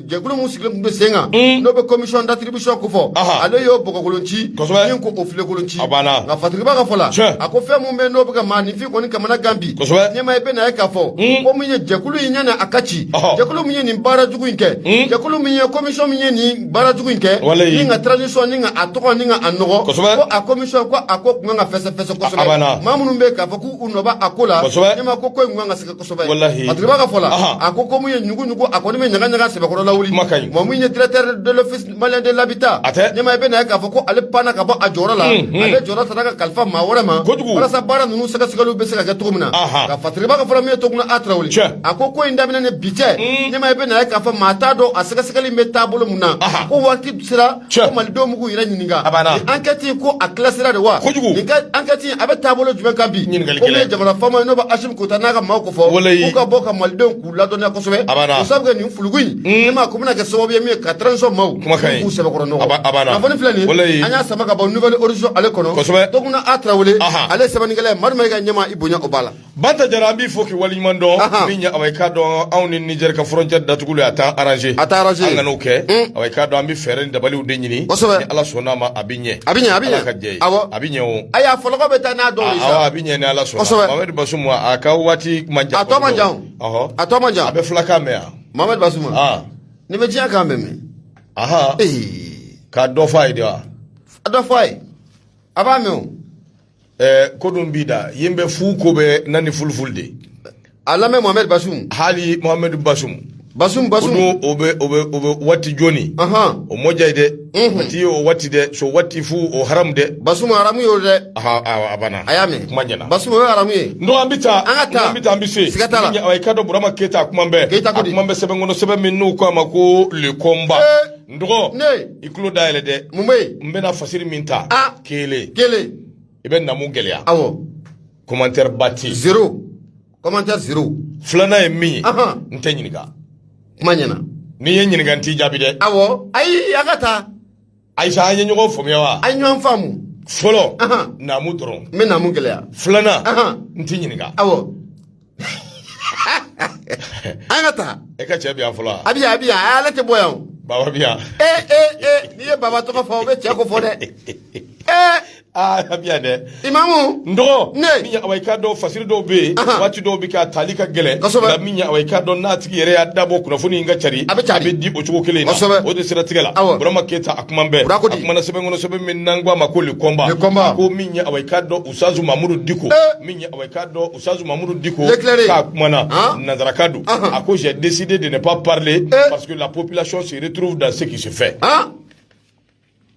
S2: jɛkulu min sigilen tun bɛ sen kan, un, n'o bɛ commission d'attribution ko fɔ, anhan, ale y'o bɔgɔkolon ci, kosɛbɛ, min ko o filenkolon ci, a banna, nka
S3: Fatirikɛba ka fɔ la,
S2: tiɲɛ, a ko fɛn min bɛ yen n'o bɛ ka maaninfin kɔni kamana gan bi, kosɛbɛ, ɲɛma i bɛ na ye k'a fɔ, un, ko min ye jɛkulu in yanni a ka ci, ɔhɔ, jɛkulu min ye nin baara jugu in kɛ, un, jɛkulu min ye commission min ye nin baara jugu in kɛ ni ka transition ni ka a tɔgɔ ni ka a nɔgɔ ko a commission ko a ko kun ka fɛsɛfɛsɛ kosɛbɛ maa minnu bɛ k'a fɔ k'u nɔ bɛ a ko la ɲɛma ko ko in kun ka sɛgɛn kosɛbɛ Fatirikɛba ka fɔ la a ko ko mun ye ɲugu ɲugu a kɔni bɛ ɲaga ɲaga sɛbɛkɔrɔ lawuli mɔgɔ min ye directeur de l'office malien de l'habitat ɲɛma i bɛ na ye k'a fɔ ko ale panna ka bɔ a jɔyɔrɔ la ale jɔyɔrɔ sera ka kalifa maa wɛrɛ ma walasa baara ninnu sɛgɛsɛgɛliw bɛ se ka kɛ cogo min na nka Fatirikɛba ka fɔ la min ye Toguna A Tarawele a ko ko in daminɛnen bi tɛ hmm. ne ma i bɛ na ye k'a fɔ maa t'a dɔn a sɛgɛsɛgɛli bɛ taabolo mun na ko waati sera ko malidenw b'u k'u yɛrɛ ɲininka nin ankɛti ko a classera de wa nin ankɛti a bɛ taabolo jumɛn kan bi ko min ye jamana faama ye n'o bɛ asimi goyita n'a ka maaw ko fo k'u ka bɔ ka malidenw k'u ladɔnniya kosɛbɛ ko sabu kɛ nin fulugu in hmm. ne ma ko bɛna kɛ sababu ye min ye ka transition maaw k'u sɛbɛkɔrɔ nɔgɔ kunnafoni filɛ nin an y'a sama ka bɔ nouvel horizon ale kɔnɔ tuguna a tarawele ale ye sɛbɛnnikɛla ye mari ma i ka ɲɛma i bonya o b'a la Banta jara an b'i
S3: fo k'i waleɲuman dɔn Ahan. min ye awa i k'a dɔn anw ni Niger ka frontière datuguli a t'an arranger A t'a arranger. an kana o kɛ Un. awa i k'a dɔn an bɛ fɛɛrɛ ni dabaliw de ɲini Kosɛbɛ. ni Ala sɔnn'a ma a bɛ ɲɛ A bɛ ɲɛ, a bɛ ɲɛ. Ala ka jɛ ye Awɔ. a bɛ ɲɛ o ayi a fɔlɔkɔ bɛ taa n'a
S2: dɔw ye awɔ sa a bɛ ɲɛ ni Ala sɔnna
S3: Kosɛbɛ. Mohamed Basum a ka waati man jan A tɔ man jan o. Ɔhɔ.
S2: a tɔ man jan a bɛ fulakan mɛn
S3: yan Mohamed Basum Ah.
S2: nin bɛ diɲɛ kan bɛɛ mɛn aha e ka
S3: dɔ fɔ a ye de wa a dɔ fɔ a ye
S2: a b'a mɛn o eh,
S3: ko dum mbida yimbe fu ko be nani fulfulde a
S2: lamɛn mohamɛd basum hali mohamɛd
S3: basum basum basum o dun o bɛ o bɛ o bɛ waati jooni ahan o mɔja ye dɛ Mhm. a ti o waati dɛ so waati fu o haramu dɛ basum haramu y'o
S2: dɛ aha a a banna a
S3: y'a mɛn kuma
S2: ɲɛna basum o ye
S3: haramu
S2: ye n'o an bɛ taa An ka
S3: taa. n'an bɛ taa an bɛ se Siga t'a la. Ni- awa i k'a dɔn burama keyita a kuma bɛɛ Keyita ko di. kuma bɛ sɛbɛn kɔnɔ sɛbɛn min n'u ko a ma ko le combat Eh. n dɔgɔ Ne. i tulo dayɛlɛ dɛ mun bɛ yen n bɛna fasiri min ta a kelen kelen i bɛ namu gɛlɛya
S2: awɔ commentaire
S3: ba tɛ yen zero commentaire
S2: zero filanan ye min ye
S3: Ahan. n tɛ ɲininka kuma ɲɛna
S2: n'i ye n ɲininka
S3: n t'i jaabi dɛ awɔ ayi an
S2: ka taa ayi sa an
S3: ye ɲɔgɔn faamuya wa an ye ɲɔgɔn
S2: faamu fɔlɔ Ahan.
S3: namu dɔrɔn n bɛ namu gɛlɛya
S2: filanan Ahan.
S3: n t'i ɲininka awɔ
S2: an ka taa e ka cɛ bi yan
S3: fɔlɔ a bi yan a bi yan ale
S2: tɛ bɔ yan o baba bi yan
S3: ee ee ee n'i
S2: ye baba tɔgɔ fɔ o bɛ cɛ ko fɔ dɛ ee aa a bi
S3: yan dɛ imamu n dɔgɔ
S2: Ne. min ye
S3: awa i k'a dɔn fasiri dɔw bɛ yen Ahan. waati dɔw bɛ kɛ a tali ka gɛlɛn Kosɛbɛ. nka min ye awa i k'a dɔn n'a tigi yɛrɛ y'a dabɔ kunnafoni in ka cari A bɛ cari. a bɛ di o cogo kelen in na Kosɛbɛ. o de siratigɛ la Awɔ. burama keyita a kuma bɛɛ Burama ko di. a kumana sɛbɛn kɔnɔ sɛbɛn min n'an ko a ma ko le combat Le combat. ko min ye awa i k'a dɔn usutazu mamudu diko k'a dɔn usutazu mamudu diko k'a kumana nansarakan dɔ a ko j'ai décidé de ne pas parler parce que la population se retrouve dans ce qui se fait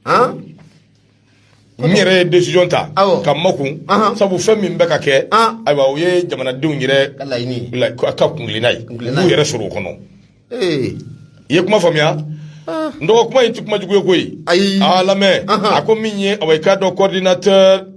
S3: n yɛrɛ ye décision ta ka makun sabu fɛn min bɛ ka kɛ ayiwa o ye jamanadenw yɛrɛ ka kuntilenna ye u b'u yɛrɛ sɔrɔ o kɔnɔ i ye kuma faamuya n dɔgɔ kuma in tɛ kuma jugu ye koyi ayi a lamɛn a ko min ye awa i k'a dɔn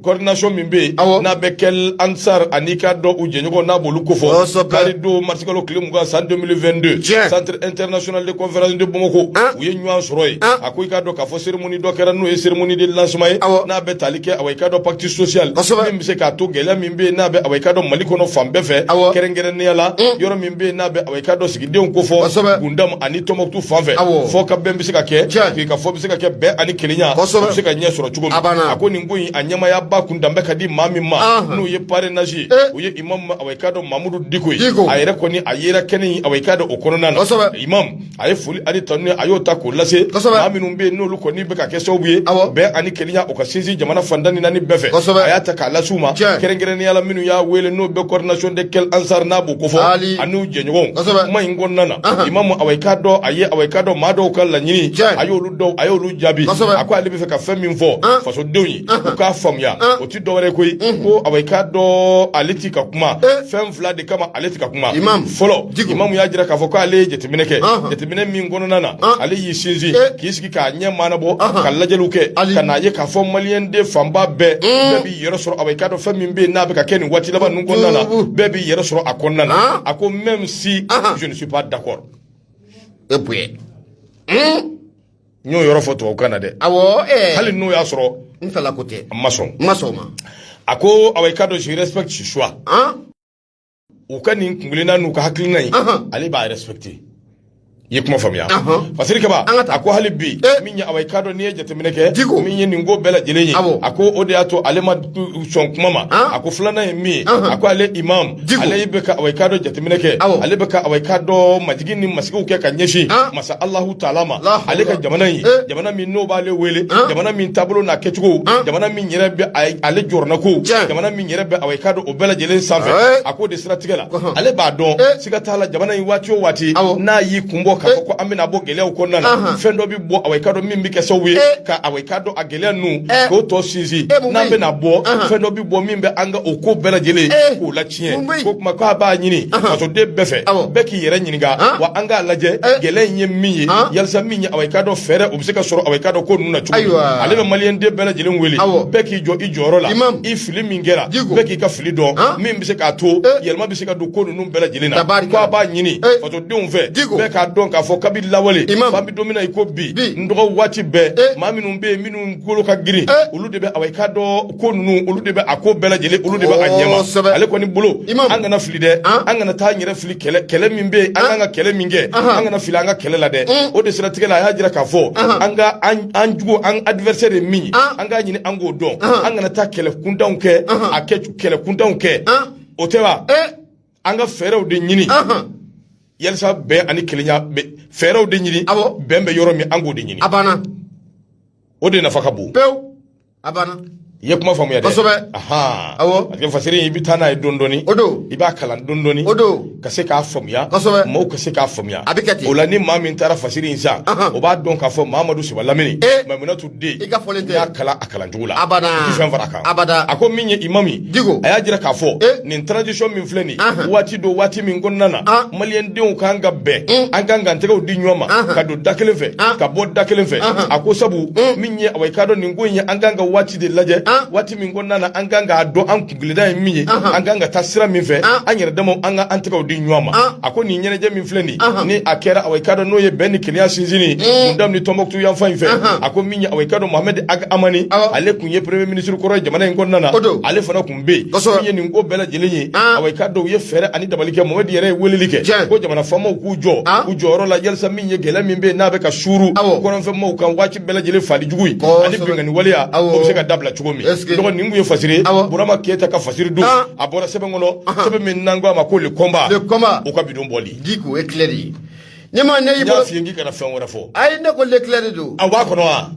S3: coordination min bɛ yen Awɔ. n'a bɛ Kel Ansar ani k'a dɔn u jɛɲɔgɔn n'a b'olu kofɔ Kosɛbɛ. kari don marisikalo tile mugan san 2022 Tiɲɛ. centre international de conférence de Bamako An. u ye ɲɔgɔn sɔrɔ yen An. a ko i k'a dɔn k'a fɔ cérémonie dɔ kɛra n'o ye cérémonie de lancement ye Awɔ. n'a bɛ tali kɛ awa i k'a dɔn pacte social Kosɛbɛ. min bɛ se k'a to gɛlɛya min bɛ yen n'a bɛ awa i k'a dɔn mali kɔnɔ fan bɛɛ fɛ Awɔ. kɛrɛnkɛrɛnnenya la yɔrɔ min bɛ yen n'a bɛ awa i k'a dɔn sigidenw kofɔ kosɛbɛ gundam ani tɔnbɔkutu fan fɛ awɔ fɔkabɛn bɛ se ka kɛ Tiɲɛ. sigikafɔ bɛ se ka kɛ bɛn ani kelenya Kosɛbɛ. o bɛ se ka ɲɛ sɔrɔ cogo min A banna. a ko nin ko in a ɲɛmaayaba kun danbɛ ka di maa min ma Ahan. n'o ye parrainage ye Eh. o ye imam ma- awa i k'a dɔn mamudu diko ye Diko. a yɛrɛ kɔni a yera kɛnɛ in awa i k'a dɔn o kɔnɔna na Kosɛbɛ. imam a ye foli ani tanuni a y'o ta k'o lase maa minnu bɛ yen n'olu kɔni bɛ ka kɛ sababu ye bɛn ani kelenya o ka sinsin jamana fan tan ni naani bɛɛ fɛ a y'a ta k'a lase u ma kɛrɛnkɛrɛnnenya la minnu y'a wele n'u bɛ coordination des Kel Ansar n'a b'o kofɔ an'u jɛɲɔgɔnw kuma in kɔnɔna na imamu awa i k'a dɔn a ye awa i k'a dɔn maa dɔw ka laɲini a y'olu dɔw a y'olu jaabi a ko ale bɛ fɛ ka fɛn min fɔ fasodenw ye u k'a faamuya dɔwɛrɛ koyi mhm. ko awa i k'a dɔn ale ti ka kuma eh. fɛn fila de kama ale ti ka kuma fɔlɔ imamu y'a jira k'a fɔ ko ale ye jateminɛ kɛ jateminɛ min kɔnɔna na ah. ale y'i sinsin eh. k'i sigi k'a ɲɛ maanabɔ ka lajɛliw kɛ ka n'a ye k'a fɔ maliyɛnden fanba bɛɛ mm. bɛɛ b'i yɛrɛ sɔrɔ awa i k'a dɔn fɛn min bɛ yen n'a bɛ ka kɛ nin waati laban ninnu kɔnɔna na bɛɛ b'i yɛrɛ sɔrɔ a kɔnɔna na ah. a ko même si je ne suis pas d'accord e bonya hmm? n y'o yɔrɔ fɔ tubabukan na dɛ awɔ eh. hali n'o y'a sɔrɔ n fɛla ko tɛ
S2: n ma sɔn n ma sɔn a ma a ko
S3: awa i k'a dɔn je respecte ce choix u ka nin kunkelenna n'u ka hakilina in ale b'a respecter i ye kuma faamuya fasiri kaba a ko hali bi eh. min ye awa i k'a dɔn n'i ye jateminɛ kɛ min ye nin ko bɛɛ lajɛlen ye a ko o de y'a to ale ma sɔn kuma ma a ko filanan ye min ye a ko ale imam ale bɛ ka awa i k'a dɔn jateminɛ kɛ ale bɛ ka awa i k'a dɔn majigin ni masigiw kɛ ka ɲɛsin masa Allahu taala ma ale ka jamana in eh. jamana min n'o b'ale wele jamana min taabolo n'a kɛcogo jamana min yɛrɛ bɛ ale jɔrɔnanko jamana min yɛrɛ bɛ awa i k'a dɔn o bɛɛ lajɛlen sanfɛ eh. a k'o de siratigɛ la ale b'a dɔn eh. siga t'a la jamana in waati o waati n'a y'i kunbɔ k'a fɔ ko an bɛna bɔ gɛlɛyaw kɔnɔna na fɛn dɔ bɛ bɔ awa i k'a dɔn min bɛ kɛ sababu ye ka awa i k'a dɔn gɛlɛya ninnu eh. k'o tɔ sinsin eh, n'an bɛna bɔ fɛn dɔ bɛ bɔ min bɛ an ka o ko bɛɛ lajɛlen eh. k'o latiɲɛ k'o tuma k'a b'a ɲini fasoden bɛɛ fɛ bɛɛ k'i yɛrɛ ɲininka wa an k'a lajɛ gɛlɛya in ye min ye yalisa min ye awa i k'a dɔn fɛɛrɛ o bɛ se ka sɔrɔ awa i k'a dɔn ko ninnu na cogo min ale bɛ maliyɛnden bɛɛ lajɛlen wele bɛɛ k'i jɔ i jɔyɔrɔ la i fili min kɛra bɛɛ k'i ka fili dɔn min bɛ se k'a to yɛlɛma bɛ se ka don ko ninnu bɛɛ lajɛlen na k'a b'a ɲini denw fɛ bɛɛ k'a dɔn k'a fɔ kabi lawale f'an bɛ don min na i ko bi n dɔgɔ waati bɛɛ eh. maa minnu bɛ yen minnu kolo ka girin eh. olu de bɛ awa i k'a dɔn ko ninnu olu de bɛ a ko bɛɛ lajɛlen olu de bɛ a ɲɛma ale kɔni bolo an kana fili dɛ ah. an kana taa an yɛrɛ fili kɛlɛ kɛlɛ min bɛ yen an ah. kan ka kɛlɛ min kɛ an kana fili an ka kɛlɛ la dɛ mm. o de siratigɛ la a y'a jira k'a fɔ an ka an jugu an adversaire ye min ye ah. an k'a ɲini an k'o dɔn an kana taa kɛlɛ kuntanw kɛ a kɛ kɛlɛ kuntanw kɛ o tɛ wa eh. an ka fɛɛrɛw de ɲini yalisa bɛn ani kelenya fɛɛrɛw de ɲini bɛn bɛ yɔrɔ min an k'o de ɲini a banna o de nafa ka bon pewu a banna i ye kuma faamuya dɛ kosɛbɛ awɔ parce que fasiri i bɛ taa n'a ye dɔɔni dɔɔni o don i b'a kalan dɔɔni dɔɔni o don ka se k'a faamuya kosɛbɛ maaw ka se k'a faamuya a bɛ kɛ ten o la ni maa min taara fasiri in san o b'a dɔn k'a fɔ Mamadu Siba Lamini Maimunatu den i ka fɔlen tɛ i y'a kalan a kalan cogo la abada i tɛ fɛn fara a kan abada a ko min ye imamu Diko a y'a jira k'a fɔ eh? nin tradition min filɛ nin waati don waati min kɔnɔna na ah. maliyɛn denw kan ka bɛn hmm. an kan ka tɛgɛw di ɲɔgɔn ma ka don da kelen fɛ ah. ka bɔ da kelen fɛ a ko sabu hmm. min ye awa i k'a dɔn nin ko in ye an kan ka waati de lajɛ ah. waati min kɔnɔna na an kan k'a dɔn an kun tilenna ye min ye an kan ka taa sira min fɛ an yɛrɛ damaw an ka an tɛgɛw di ɲɔgɔn ma a ko nin ɲɛnajɛ min filɛ nin ni a kɛra awa i k'a dɔn n'o ye bɛn ni kelenya sinsinni Gundam ni tɔnbɔkutu yanfan in fɛ a ko min ye awa i k'a dɔn mohamɛdi ag amani ale tun ye premier ministre kɔrɔ jamana in kɔnɔna na ale fana tun bɛ yen min ye nin ko bɛɛ lajɛlen ye awa i k'a dɔn u ye fɛɛrɛ ani dabali kɛ mohamɛdi yɛrɛ ye weleli kɛ ko jamana faamaw k'u jɔ u jɔyɔrɔ la yalisa min ye gɛlɛya min bɛ yen n'a bɛ ka suuru kɔrɔnfɛmaaw kan waati bɛɛ lajɛlen faali jugu ye ani binkanni waleya o bɛ se ka dabila cogo min dɔgɔ nin tun ye fasiri ye burama keyita ka fasiri don ah. a bɔra sɛbɛn kɔnɔ sɛbɛn min n'an ko a ma ko Le Combat o ka bi don bɔli diko ye tilɛ de ye ne ma ne y'i bolo n y'a f'i ye k'i kana fɛn wɛrɛ fɔ ayi ne ko le tilɛ de don a b'a kɔnɔ wa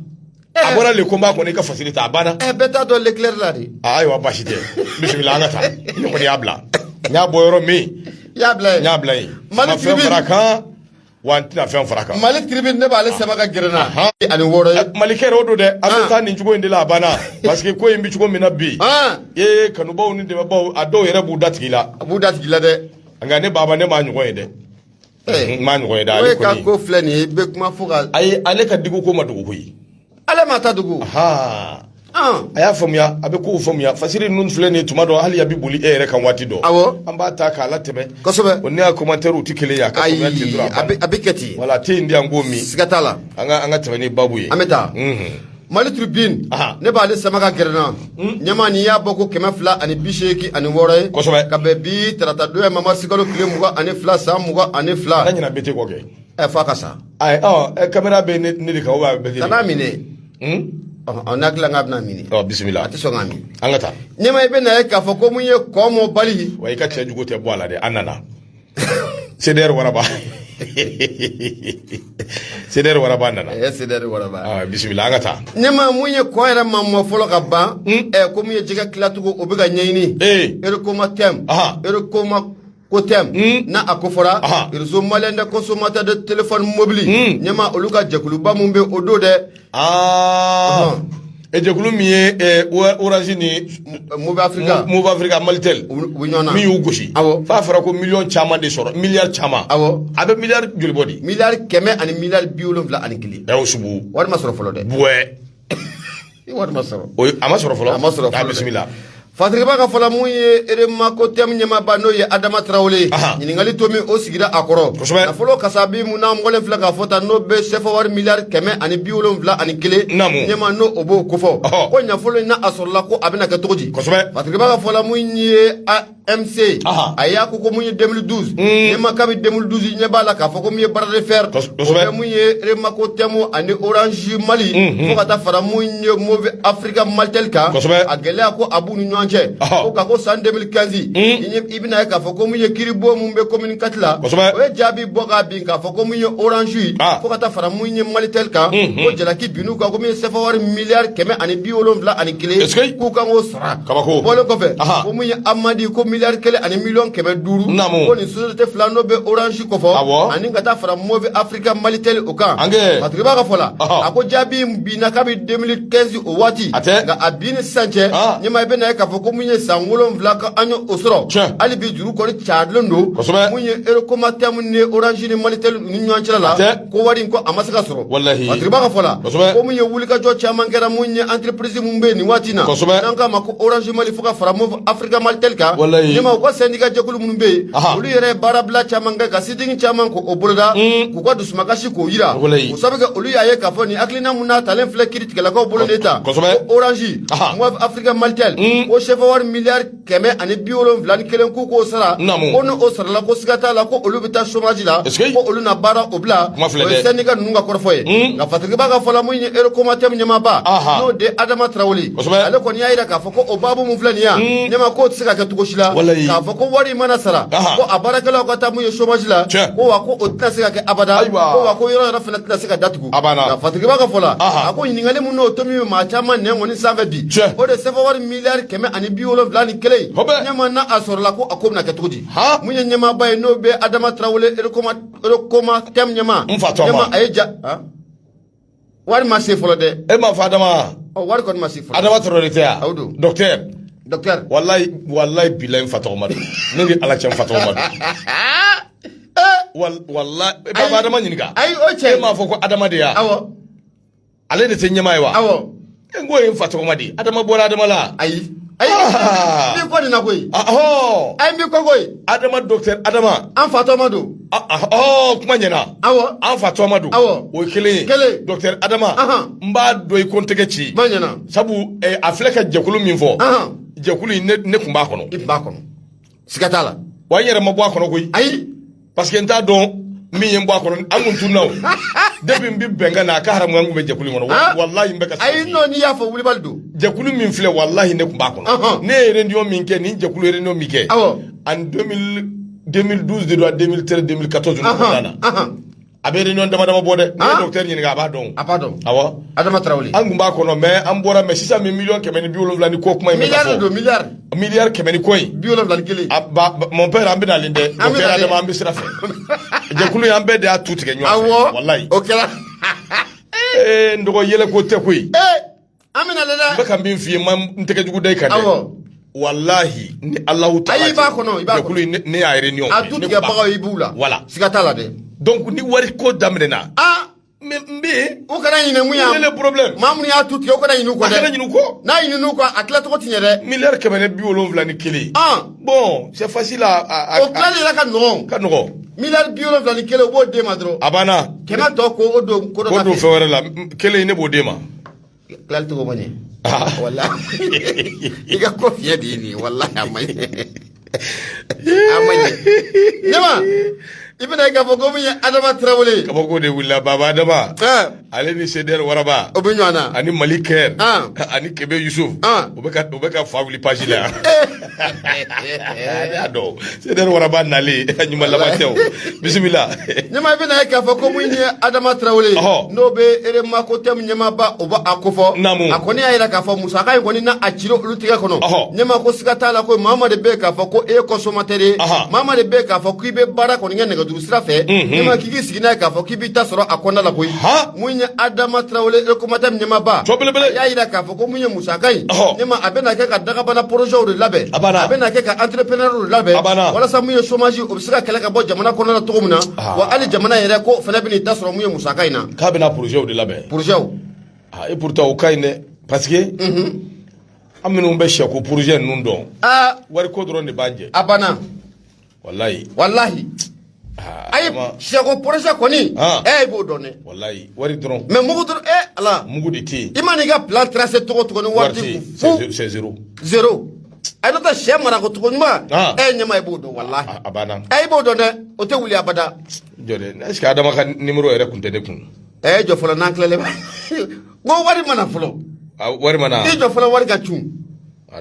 S3: a eh. bɔra Le Combat kɔnɔ i ka fasiri ta a banna eh, bɛɛ t'a dɔn le tilɛ la de ah, ayiwa baasi tɛ bisimila an ka taa ne kɔni y'a bila n y'a bɔ yɔrɔ min n y'a bila yen n y'a bila yen n ma hali fɛn fara kan wa n tɛna fɛn fara kan. Mali Tribune ne b'ale ah. sɛbɛn ka gɛrɛ na. Ah. ani wɔɔrɔ ye. malikɛ yɛrɛ o don dɛ. an bɛ ah. taa nin cogo in de la a banna. parce que ko in bɛ cogo min na bi. ee kanubaw ni dɛmɛbaw a dɔw yɛrɛ b'u da tigi la. a b'u da tigi la dɛ. nka ne baba ne m'a ɲɔgɔn ye dɛ. Eh. n m'a ɲɔgɔn ye dɛ ale kɔni. o ka ko filɛ nin ye i bɛ kuma fo ka. ayi ale ka Diko ko ma dogo koyi. ale m'a ta dogo ha a y'a faamuya a bɛ kow faamuya fasiri ninnu filɛ nin tuma dɔ hali a bɛ boli e yɛrɛ kan waati dɔ awɔ an b'a ta k'a latɛmɛ kosɛbɛ o ne y'a commentaire tɛ kelen ye a ka ayi faamuya ten dɔrɔn a bɛ a bɛ kɛ ten wala a tɛ yen di an k'o min siga t'a la an ka an ka tɛmɛ ni babu ye an bɛ taa Mhm. mali tribune Aha. ne b'ale sama ka gɛrɛ na ɲɛma nin y'a bɔko kɛmɛ fila ani bi seegin ani wɔɔrɔ ye Kosɛbɛ. ka bɛn bi tarata don in ma marisikalo tile mugan ani fila san mugan ani fila ala ɲinɛ bɛ tɛ kɔ kɛ ɛ f'a ka sa ayi ɔ ɛ kamera bɛ ne ne de kan o b'a bɛɛ kɛ kan'a minɛ Hmm? ɔ n'a dilan k'a bɛna minɛ ɔ bisimila a tɛ sɔn k'a minɛ an ka taa ɲɛma i bɛ na ye k'a fɔ ko mun ye kɔ mɔ bali wa i ka cɛ jugu tɛ bɔ a la dɛ an nana cdr waraba cdr waraba nana ɛ cdr waraba Ah, bisimila an ka taa ɲɛma mun ye kɔ yɛrɛ ma mɔ fɔlɔ ka ban ɛ ko mun ye jɛgɛ tilacogo o bɛ ka ɲɛɲini ee erekoma tɛm Aha. erekoma ko tɛm hmm. n'a kofɔra rezo maliyɛn de consommateur de téléphone mobili hmm. ɲɛma olu ka jɛkuluba min bɛ o don dɛ ah. e jɛkulu min ye eh, orange ni moov africa moov africa malitel u bɛ ɲɔgɔn na min y'u gosi awɔ f'a fɔra ko miliyɔn caman de sɔrɔ miliyari caman awɔ a bɛ miliyari joli bɔ di miliyari kɛmɛ ani miliyari bi wolonwula ani kelen ɛɛ o sugu wari ma sɔrɔ fɔlɔ dɛ buwɛ wari ma sɔrɔ o a ma sɔrɔ fɔlɔ a ma sɔrɔ fɔlɔ bisimila
S2: fatirikeba ka fɔla mun ye remakotɛmu ɲɛmaaba n'o ye adama tarawele ɲininkali tomi o sigira a kɔrɔ kosɛbɛ nafolo kasabi mun n'an bɔlen filɛ k'a fɔ tan n'o bɛ sɛfawari miliyari kɛmɛ ani bi wolonwula ani kelen ɲɛma n'o o b'o kofɔ ko nafolo in n'a sɔrɔla ko a bɛna kɛ cogo di kosɛbɛ fatirikeba ka fɔla mun ye MC Aha. a y'a ko ko mun ye 2012 ɲɛma kabi 2012 i ɲɛ b'a la k'a fɔ ko mun ye bras de fer Kos- o kosɛbɛ. bɛ mun ye remakotɛmu ani orange mali fo ka taa fara mun ye moov africa malitel kan Kosɛbɛ. a gɛlɛya ko a b'u ni ɲɔgɔn cɛ Aha. ko ka ko san 2015 i ɲɛ- i bɛna ye k'a fɔ ko mun ye kiribon mun bɛ commune 4 la Kosɛbɛ. o ye jaabi bɔ k'a bin k'a fɔ ko mun ye orange ye Ah. fo ka taa fara mun ye malitel kan ko jalaki bin'u kan ko mun ye sɛfawari miliyari kɛmɛ ani bi wolonwula ani kelen Est-ce que- k'u kan k'o sara o bɔlen kɔfɛ ko mun ye amende ko miliyari kelen ani miliyɔn kɛmɛ duuru naamu ko nin sosiyete fila n'o bɛ orange kofɔ awɔ ani ka taa fara moov africa malitel o kan ange patigibaa ka fɔ la a ko jaabi in binna kabi 2015 o waati a tɛ nka a bin ni sisan cɛ ɲɛma i bɛ na ye k'a fɔ ko mun ye san wolonwula ka an ye o sɔrɔ tiɲɛ hali bi juru kɔni cayalen don kosɛbɛ mun ye erekomatɛmu ni orange ni malitel ni ɲɔgɔn cɛla la a tɛ ko wari in ko a ma se ka sɔrɔ Walahi. matiriba ka fɔ la Kosɛbɛ. ko mun ye wulikajɔ caman kɛra mun ye entreprise mun bɛ yen nin waati in na Kosɛbɛ. n'an k'a ma ko orange mali fo ka fara moov africa malitel kan Walahi. ɲɛma u ka sɛndika jɛkulu minnu bɛ yen Aha. olu yɛrɛ ye baarabila caman kɛ ka sit-in caman k'o boloda k'u ka dusumakasi k'o yira Walahi. o sabu kɛ olu y'a ye k'a fɔ nin hakilina mun n'a talen filɛ kiritigɛlakaw bolo de tan Kosɛbɛ. ko orange Aha. moov africa malitel ko sɛfawari miliyari kɛmɛ ani bi wolonwula ni kelen k'u k'o sara ko ni o sarala ko siga t'a la ko olu bɛ taa chômage la ko olu na baara o bila o ye syndicat ninnu ka kɔrɔfɔ ye hmm. nka fatigibaa ka fɔla min ye erekomatɛmu ɲɛmaaba n'o de adama tarawele ale kɔni y'a yira k'a fɔ ko o baabu min filɛ nin yan hmm. ɲɛma k'o tɛ se ka kɛ cogo si la k'a fɔ ko wari mana sara ko a baarakɛlaw ka taa mun ye chômage la ko wa ko o tɛna se ka kɛ abada ko wa ko yɔrɔ yɛrɛ fana tɛna se ka datugu a banna Fatigiba ka fɔ la, anhan, a ko ɲininkali min n'o tomi bɛ maa caman nɛn kɔni sanfɛ bi, tiɲɛ, o de ye sefawari miliyari kɛmɛ ani bi wolonwula ni kelen, kosɛbɛ, ɲɛma n'a a sɔrɔla ko a ko bɛna kɛ cogo di, han, mun ye ɲɛmaaba ye n'o bɛ Adama Tarawele Erekoma Erekomatɛm ɲɛmaa, n fa tɔgɔma, ɲɛma a ye ja, han, wari ma se fɔlɔ dɛ, e m'a fɔ
S3: Adama wa, ɔ wari kɔni ma se
S2: fɔlɔ, Adama Tarawele tɛ wa, o don,
S3: docteur, docteur,
S2: walayi walayi
S3: bilayi n fa tɔgɔma don, ne ni Ala cɛ n fa tɔgɔma don. walayi baba adama ɲininka ayi o cɛ e m'a fɔ
S2: ko adama de
S3: ya awɔ ale de tɛ ɲɛmaa ye wa awɔ e n k'o ye n fa tɔgɔma di adama bɔra adama la ayi ayi
S2: ah. n bi ko nin na koyi ahɔ ayi n bi ko koyi adama docteur
S3: adama an fa tɔgɔma
S2: don ɔ
S3: kuma ɲɛna awɔ an fa tɔgɔma don awɔ o ye kelen ye kelen docteur adama n b'a dɔn i ko n tɛgɛ ci kuma ɲɛna sabu eh, a filɛ ka jɛkulu min fɔ jɛkulu in ne tun b'a kɔnɔ i tun b'a kɔnɔ
S2: siga t'a la wa n yɛrɛ ma bɔ a kɔnɔ
S3: koyi ayi parce que
S2: n t'a
S3: dɔn min ye n bɔ a kɔnɔ an kun tunna o depuis n bi bɛnkan na a ka haramu an kun bɛ jɛkulu in kɔnɔ Wa- Ah. walahi n bɛ ka sa ayi non n'i y'a fɔ
S2: wulibali don jɛkulu min
S3: filɛ walahi ne tun b'a kɔnɔ Ɔhɔn. ne ye réunion min kɛ ni jɛkulu ye réunion min kɛ Awɔ. en 2000 2012 de don a 2013 2014 ɲɔgɔn kɔnɔna na Ahan, ahan. a bɛ réunion dama dama bɔ dɛ n'i ye ah. docteur ɲininka a b'a dɔn a b'a dɔn awɔ Adama Tarawele an kun
S2: b'a kɔnɔ mais
S3: an bɔra mais sisan min miliyɔn kɛmɛ ni bi wolonwula ni kɔ kuma in bɛ ka fɔ miliyari de don miliyari miliyari kɛmɛ ni kɔ in bi wolonwula ni kelen a
S2: ba mon
S3: père an bɛ nalen dɛ docteur Adama an bɛ sira fɛ jɛkulu in an bɛɛ de y'a tu tigɛ ɲɔgɔn fɛ walayi o kɛra ee n dɔgɔ yɛlɛko tɛ koyi ee an bɛ
S2: nalen dɛ n bɛ ka min f'i ye n
S3: ma n tɛgɛ jugu da i kan dɛ awɔ walahi ni alahu taala ayi i b'a kɔnɔ i b'a
S2: kɔnɔ ne, ne
S3: y'a réunion a tu tigɛbagaw i b'u
S2: la voilà siga t'a la dɛ donc ni wari ko
S3: daminɛna a mais n bɛ yen u kana ɲinɛ mun y'a
S2: le problème maa minnu y'a
S3: tu tigɛ u
S2: kana ɲinɛ u kɔ dɛ a kana ɲinɛ u kɔ n'a
S3: ɲinɛ u kɔ a
S2: tilacogo ti ɲɛ dɛ miliyari kɛmɛ ni bi
S3: wolonwula ni kelen an bon c'est facile à à o tilali
S2: yɛrɛ ka nɔgɔn ka nɔgɔn miliyari bi wolonwula ni kelen u b'o d'e ma dɔrɔn a banna kɛmɛ tɔ
S3: ko o don
S2: ko dɔ la k'o don fɛn wɛrɛ la kelen
S3: ne b'o d'e ma tilali
S2: cogo ma ɲɛ walayi i ka ko fiɲɛ de ye nin ye walayi a ma ɲɛ a ma ɲɛ ɲɛma i bɛn'a ye k'a fɔ ko min ye adama tarawele ye kabako de wulila
S3: baba adama ale ni sedɛri waraba o bɛ ɲɔgɔn na ani
S2: mali kɛ
S3: ani kebe yusuf u bɛ ka fa wuli page la y'a dɔn seder waraba nalen ɲuman laban tɛ o bisimila ɲɛma i bɛn'a
S2: ye k'a fɔ ko mun ye adama tarawele n'o bɛ eremakotɛmu ɲɛmaaba o b'a kofɔ naamu a kɔni y'a jira k'a fɔ musaka in kɔni n'a cira olu tigɛ kɔnɔ ɲɛma ko siga t'a la koyi maa maa de bɛ k'a fɔ ko e ye consommateur ye maa maa de bɛ k'a fɔ k'i bɛ baara kɔni kɛ nɛgɛjuru sira fɛ ɲɛma k'i k'i sigi n'a ye k'a fɔ k'i b'i ta sɔrɔ a kɔnɔna la koyi mun ye adama tarawele erekomatɛmu ɲɛmaaba y'a jira k'a fɔ ko mun ye musaka in ɲɛma a bɛna kɛ ka dagabana porozɛw de labɛn a bɛna kɛ ka entrepreneur de labɛn walasa mun ye chômage o bɛ se ka kɛlɛ ka bɔ jamana kɔnɔna na cogo min na wa hali jamana yɛrɛ ko fana bɛna i ta sɔrɔ mun ye musaka in na k'a bɛna porozɛw de
S3: labɛn porozɛw et pourtant o ka ɲi dɛ parce que an minnu bɛ sɛko porozɛ ninnu dɔn wariko dɔrɔn de b'an jɛ a banna walayi
S2: walayi ayi sɛko porozɛ kɔni e b'o dɔn dɛ walayi wari
S3: dɔrɔn mais mugu dɔrɔn e ala
S2: mugu de tɛ yen i
S3: man'i ka plan tracé
S2: cogo o cogo ni wari t'i kun c'est zéro
S3: zéro a
S2: n'o tɛ sɛ marako cogo ɲuman e ɲɛma i b'o dɔn walayi a banna e
S3: b'o dɔn dɛ
S2: o tɛ wuli abada jɔ dɛ est
S3: ce que adama ka numéro yɛrɛ kun tɛ ne kun e jɔ fɔlɔ n'an tilalen
S2: ba ko wari mana fɔlɔ wari mana i
S3: jɔ fɔlɔ wari ka cun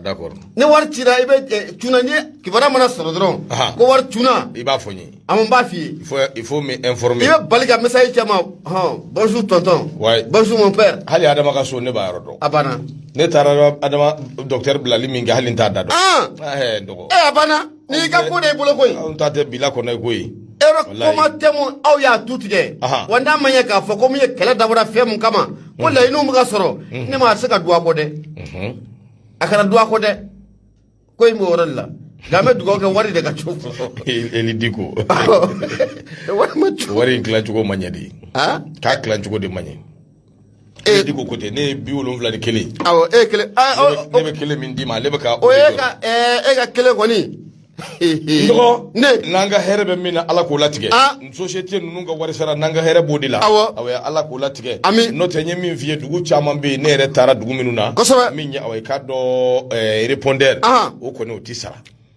S3: d'accord ni wari
S2: cira i bɛ eh, cunna ni kibaruya mana sɔrɔ dɔrɔn ko wari cunna i b'a fɔ n ye a
S3: b'a f'i
S2: ye il faut m'informer
S3: i bɛ bali ka message
S2: caman hɔn bonjour tonton bonjour mon père hali adama ka so ne
S3: b'a yɔrɔ dɔn a banna
S2: ne taara
S3: adama docteur bilali min kɛ hali n t'a da dɔn a banna n'i
S2: ka ko de y'i bolo koyi anw ta tɛ bila kɔnɔ
S3: ye koyi e yɔrɔ Walayi. kuma
S2: tɛ mun aw y'a tu tigɛ Aha. wa n'a ma ɲɛ k'a fɔ ko min ye kɛlɛ dabɔra fɛn mun kama ko laɲiniw bɛ ka sɔrɔ ne ma se ka duwa kɔ dɛ Mhm. a kana duwa kɔ dɛ ko in b'o yɔrɔ de la nka an bɛ dugawu kɛ wari de ka cun E- eli
S3: diko wari ma cun wari in tilacogo ma ɲɛ de ah k'a tilacogo de ma ɲɛ eli diko ko tɛ ne ye bi wolonwula ni kelen awɔ e ye
S2: kelen ne bɛ kelen
S3: min d'i ma ale bɛ ka o ye
S2: ka e ka kelen kɔni dɔgɔ
S3: ne n'an ka hɛrɛ bɛ min na ala k'o latigɛ société ninnu ka wari sara n'an ka hɛrɛ b'o de la awɔ awɔ ala k'o latigɛ ami n'o tɛ n ye min f'i ye dugu caman bɛ yen ne yɛrɛ taara dugu minnu na kosɛbɛ min ye awɔ i k'a dɔn répondeur o kɔni o tɛ sara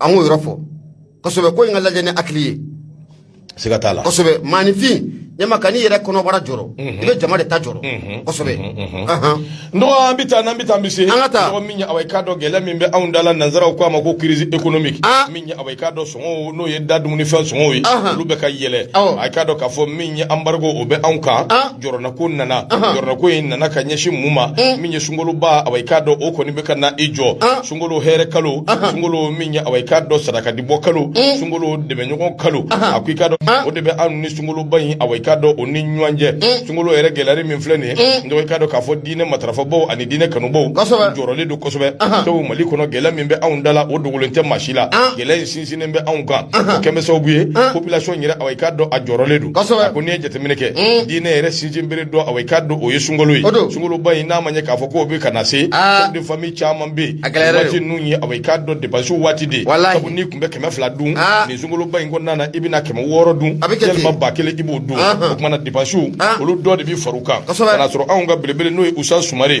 S3: an k'o
S2: yɔrɔ fɔ kosɛbɛ ko in ka lajɛ ni hakili ye siga
S3: t'a la kosɛbɛ
S2: maanifin ɲɛma kan'i yɛrɛ kɔnɔbara jɔrɔ i bɛ jama de ta jɔrɔ kosɛbɛ
S3: n dɔgɔ an bɛ taa n'an bɛ taa an bɛ se an ka taa n dɔgɔ min ye awa i
S2: k'a dɔn gɛlɛya
S3: min bɛ anw da la nanzaraw k'a ma ko crise économique min ye awa i k'a dɔn sɔngɔw n'o ye da dumunifɛn sɔngɔw ye olu bɛ ka yɛlɛ a k'a dɔn k'a fɔ min ye embargo o bɛ anw kan jɔrɔnako nana jɔrɔnako in nana ka ɲɛsin mun ma min ye sunkaloba awa i k'a dɔn o kɔni bɛ ka na i jɔ sunkolo hɛrɛ kalo sunkolo min ye awa i k'a dɔn sarakati bɔ kalo mm. sunkolo dɛmɛɲɔgɔn kalo a ko i k'a dɔn o de bɛ anw ni sunkoloba in awa i k'a dɔn o ni ɲɔgɔn cɛ mm. sunkolo yɛrɛ gɛlɛyali min filɛ nin ye mm. n dɔgɔ i k'a dɔn k'a fɔ diinɛ matarafabaw ani diinɛ kanubaw jɔrɔlen don kosɛbɛ sabu mali kɔnɔ gɛlɛya min bɛ anw da la o dogolen tɛ maa si la gɛlɛya in sinsinnen bɛ anw kan kosɛbɛ sababu ye population yɛrɛ awa i k'a dɔn a jɔrɔlen don a ko n'i ye jateminɛ kɛ mm. diinɛ yɛrɛ sinsinbere dɔ awa i k'a dɔn o ye sunkalo ye sunkaloba in n'a ma ɲɛ k'a fɔ k'o bɛ ka na se ah. chef de famille caman bɛ yen waati ninnu ye awa i k'a dɔn dépense waati de sabu n'i tun bɛ kɛmɛ fila dun ah. nin sunkaloba in kɔnɔna na i bɛna kɛmɛ wɔɔrɔ dun yalima ba kelen i b'o dun o tuma na dépense ah. olu dɔ de bɛ far'u kan ka na sɔrɔ anw ka belebele n'o ye usa sumare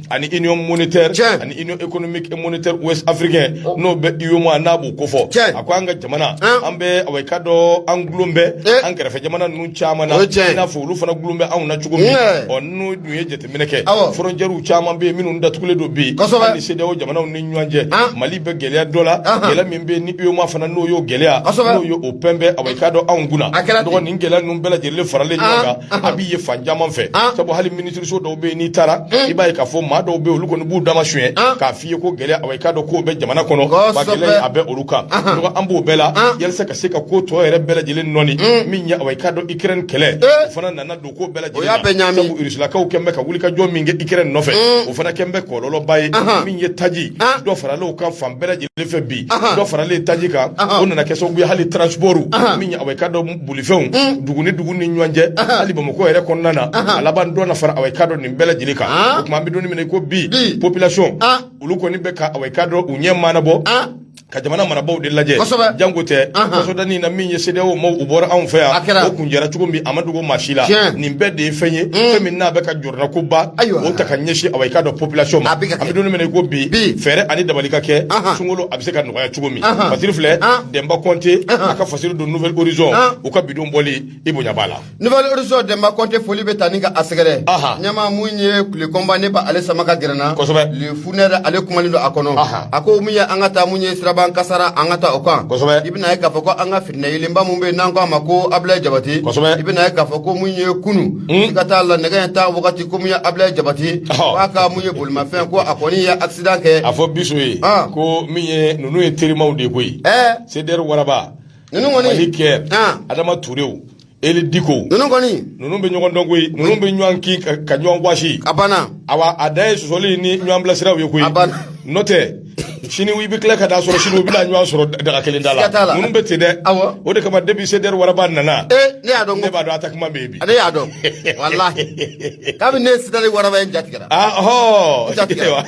S3: ani union monétaire Tiɲɛ. ani union économique et monétaire ouest africain n'o bɛ UEMOA n'a b'o kofɔ Tiɲɛ. a ko an ka jamana An. an bɛ awa i k'a dɔn an dulon bɛ Eh. an kɛrɛfɛ jamana ninnu caman na O ye tiɲɛ ye. i n'a fɔ olu fana dulon bɛ anw na cogo min Tiɲɛ. ɔ n'u dun ye jateminɛ kɛ Awɔ. frontières caman bɛ yen minnu datugulen don bi Kosɛbɛ. hali CEDEAO jamanaw ni ɲɔgɔn cɛ An. Mali bɛ gɛlɛya dɔ la Ahan. gɛlɛya min bɛ yen ni UEMOA fana n'o y'o gɛlɛya Kosɛbɛ. n'o y'o peine bɛ awa i k'a dɔn anw kunna A kɛra ten. donc nin gɛlɛya ninnu bɛɛ lajɛlen faralen ɲɔgɔn An. kan a b'i ye fan caman fɛ An. sabu hali minisiri so dɔw bɛ yen n'i taara i b'a ye k'a fɔ maa dɔw bɛ yen olu kɔni b'u dama suɲɛ k'a f'i ye ko gɛlɛya awa i k'a dɔn k'o bɛ jamana kɔnɔ ba gɛlɛya a bɛ olu kan donc an b'o bɛɛ la yalisa ka se ka ko tɔ yɛrɛ bɛɛ lajɛlen nɔɔni min ye awa i k'a dɔn Ukraine kɛlɛ o fana nana don ko bɛɛ lajɛlen na sabu Rusilakaw kɛn bɛ ka wulikajɔ min kɛ Ukraine nɔfɛ o fana kɛn bɛ kɔlɔlɔba ye min ye taji dɔ farala o kan fan bɛɛ lajɛlen fɛ bi dɔ faralen taji kan o nana kɛ sababu ye hali transport min ye awa i k'a dɔn bolifɛnw dugu ni dugu ni ɲɔgɔn cɛ hali bamakɔ yɛrɛ kɔnɔna na a laban dɔ na fara awa i k'a dɔn nin bɛɛ lajɛlen kan o tuma an bɛ don min na i ko bi population olu kɔni bɛ ka awa i k'a dɔn u ɲɛ maanabɔ ka jamana marabaaw de lajɛ janko tɛ kasodanin na min ye CEDEAO maaw u bɔra anw fɛ yan o kuncɛra cogo min a ma dogo maa si la nin bɛɛ de ye fɛn ye fɛn min n'a bɛ ka jɔ ko ba ayiwa o ta ka ɲɛsin awa i k'a dɔn population ma a bɛ ka kɛ an bɛ don min na i ko bi fɛɛrɛ ani dabali ka kɛ sunkalo a bɛ se ka nɔgɔya cogo min fasiri filɛ Denba Kɔnte a ka fasiri don nouvelle horizon u ka bi don bɔli i bonya b'a la nouvelle horizon Denba
S2: Kɔnte foli bɛ taa ni ka a sɛgɛrɛ ɲɛmaa mun ye ko Le Combat ne bɛ ale sama ka gɛrɛ n na kosɛbɛ Le Fouineur ale kumalen don a kɔnɔ a ko min ye an ka taa mun ye siraban kasara an ka taa o kan kosɛbɛ i bɛna ye k'a fɔ ko an ka fitinɛ yeelenba min bɛ yen n'an k'a ma ko Abilaye Jabate kosɛbɛ i bɛna ye k'a fɔ ko mun ye kunu N ka taa la nɛgɛ ɲɛ tan wagati ko mun ye Abilaye Jabate k'a ka mun ye bolimafɛn ko a kɔni ye accident kɛ a fɔ biso ye
S3: ko min ye ninnu ye terimaw de koyi CDR waraba ninnu
S2: kɔni
S3: kɛ Adama Turew Eli Diko ninnu kɔni ninnu
S2: bɛ ɲɔgɔn dɔn
S3: koyi ninnu bɛ ɲɔgɔn kin ka ɲɔgɔn wasi a banna awa a
S2: dan ye sɔsɔli
S3: ni ɲɔgɔn bilasiraw ye koyi a banna n'o tɛ sini i bɛ tila ka taa sɔrɔ sini u bɛna ɲɔgɔn sɔrɔ daga kelen da la ninnu bɛ ten dɛ o de kama depuis CDR waraba nana ne y'a dɔn ne b'a dɔn
S2: attaquement bɛ yen bi
S3: ne y'a dɔn
S2: walahi kabini ne ye CDR waraba ye n jatigɛra ahɔ jatigɛra
S3: wa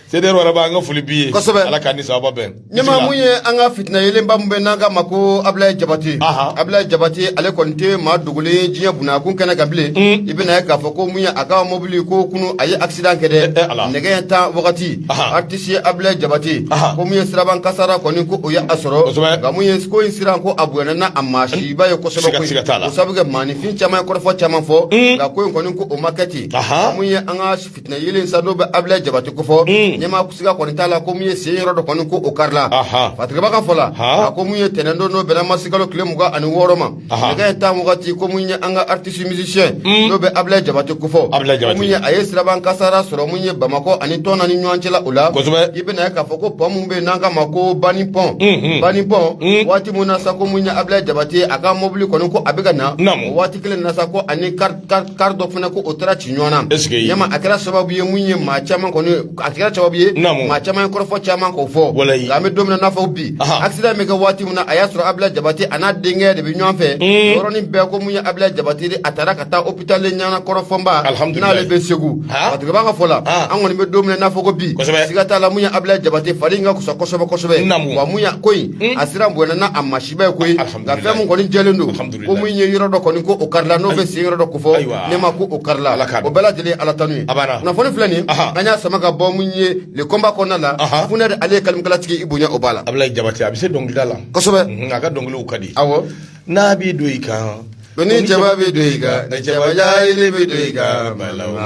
S3: CDR waraba an ka foli b'i ye kosɛbɛ ala k'a ni sababu bɛn ɲɛmaa mun ye an
S2: ka fitina yeelenba min bɛ yen n'an k'a ma ko Abilaye Jabate Abilaye Jabate ale kɔni tɛ maa dogolen ye diɲɛ bunakun kɛnɛ kan bilen i bɛna ye k'a fɔ ko mun ye a ka mobili ko kunu a ye accident kɛ dɛ nɛgɛ ɲɛ tan wagati artiste Abilaye Jabate ko mun ye siraban kasara kɔni ko o ye a sɔrɔ nka mun ye ko in siran ko a bonyana n'a masiba ye kosɛbɛ koyi o sabu kɛ maanifin caman ye kɔrɔfɔ caman fɔ hmm. nka ko in kɔni ko o ma kɛ ten nka mun ye an ka fitinɛ yeelen sa n'o bɛ Abilaye Jabate kofɔ hmm. ɲɛmaa siga kɔni t'a la ko mun ye sen yɔrɔ dɔ kɔni ko o karila fatigɛba ka fɔ la a ko mun ye tɛnɛndon n'o bɛnna masikalo tile mugan ani wɔɔrɔ ma nɛgɛ ɲɛ tan wagati ko mun ye an ka artiste musicien hmm. n'o bɛ Ablaye Jabate kofɔ mun ye a ye siraba kan kasara sɔrɔ mun ye Bamakɔ ani Tuna ni ɲɔgɔn cɛla o la kosɛbɛ i bɛna ye k'a fɔ ko pɔn mun bɛ yen n'an k'a ma ko bani pɔn hmm, hmm. bani pɔn waati mun na sa ko mun ye Ablaye Jabate a ka mobili kɔni ko a bɛ ka na o waati kelen na sa ko ani car kari dɔ fana ko o taara ci ɲɔgɔn na ɲɛma a kɛra sababu ye mun ye maa caman kɔni a kɛra sababu ye maa caman ye kɔrɔfɔ caman k'o fɔ nka an bɛ don min na n'a fɔ bi accident bɛ kɛ waati min na a y'a sɔrɔ Ablaye Jabate a n'a denkɛ de bɛ ɲɔgɔn fɛ mm. yɔrɔnin bɛɛ ko mun ye Ablaye Jabate de a taara ka taa hôpital Ɲanankoro Fɔnba n'ale bɛ segu matigɛba ka fɔ la an kɔni bɛ don min na n'a fɔ ko bi siga t'a la mun ye Ablaye Jabate fari in ka kusa kosɛbɛ kosɛbɛ wa mun ye ko in mm. a siran bonyana n'a masiba ye koyi nka fɛn min kɔni jɛlen don Ko mun ye yɔrɔ dɔ kɔni ko o karila n'o bɛ sen yɔrɔ dɔ ko fɔ ne ma ko o karila o bɛɛ lajɛlen ye ala tanu ye kunnafoni filɛ nin an y'a sama ka bɔ mun ye le combat kɔnɔna la Funɛkɛ ale ye kalimukalatigi i bonya o b'a la Ablaye Jabate a bɛ se dɔnkilida
S3: la kosɛbɛ a ka dɔnkiliw
S2: ka di
S3: aw n'a
S1: b'i don i kan ko ni jaba
S2: bɛ don i ka ne jaba bɛ don i ka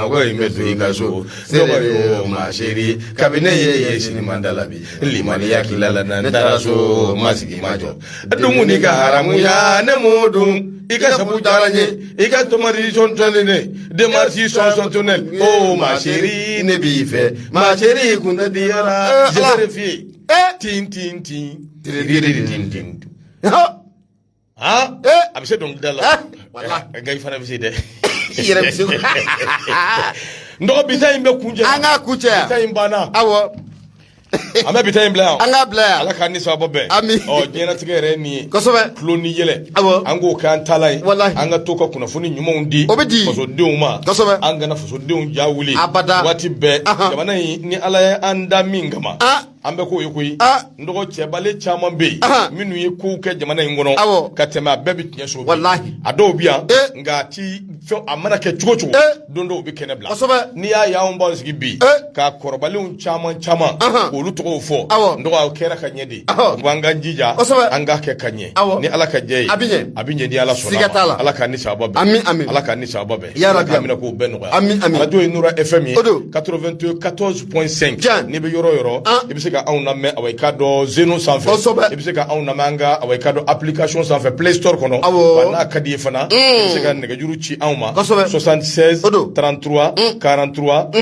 S2: ko in bɛ
S1: don i ka so Seri Maseri kabini ne y'i ye sinima da la bi limaniya k'i la ne taara so ma sigi ma jɔ a dumuni ka haramuya ne m'o dun i ka sabu diyara n ye i ka tomati sɔntɔnni ne demarsi sɔnsɔntu ne o Maseri ne b'i fɛ Maseri kun tɛ diyara Eh, Ala. zɛrɛ fi ye tin tin tin tiribiri tin tin han Eh. a bɛ se dɔnkilida la Eh, wala. Eh, nka i fana bɛ se dɛ i yɛrɛ bɛ se ko-
S3: n dɔgɔ bi ta in bɛ kuncɛ an k'a kuncɛ bi ta in
S2: banna awɔ
S3: an bɛ bi ta in bila yan an k'a bila yan ala k'an
S2: ni saba bɛn
S3: ami ɔ
S2: diɲɛlatigɛ yɛrɛ ye
S3: nin ye kosɛbɛ tulon ni
S2: yɛlɛ
S3: awɔ an k'o
S2: k'an taala ye
S3: walahi an ka to ka
S2: kunnafoni
S3: ɲumanw di o bɛ di fasodenw ma
S2: kosɛbɛ
S3: an kana fasodenw ja wuli abada waati bɛɛ jamana in ni ala ye an da min kama an bɛ k'o ye koyi n dɔgɔ cɛbale caman bɛ yen minnu ye kow kɛ jamana in kɔnɔ ka tɛmɛ a bɛɛ bɛ tiɲɛso walahi a dɔw bɛ yan nka a ti fɛn a mana kɛ cogo cogo don dɔ u bɛ kɛnɛ bila n'i y'a
S2: y'an b'an
S3: sigi bi ka kɔrɔbalenw caman caman k'olu tɔgɔw fɔ n dɔgɔ a kɛra ka ɲɛ de an k'an jija an k'a kɛ ka ɲɛ ni ala ka jɛ ye a bɛ ɲɛ ni ala sɔnna a ma ala k'an ni saba bɛn ala k'an ni saba bɛn amiina k'o bɛɛ nɔgɔya arajo ye Nura FM ye 94 point 5 Tiɲɛ. n'i bɛ yɔrɔ o yɔrɔ An. i bɛ se ka anw lamɛn awa i k'a dɔn zeno sanfɛ Kosɛbɛ. i bɛ se ka anw lamɛn an ka awa i k'a dɔn application sanfɛ play store kɔnɔ Awɔ. wa n'a ka di i ye fana i bɛ se ka nɛgɛjuru ci anw ma Kosɛbɛ. 76 O don. 33 43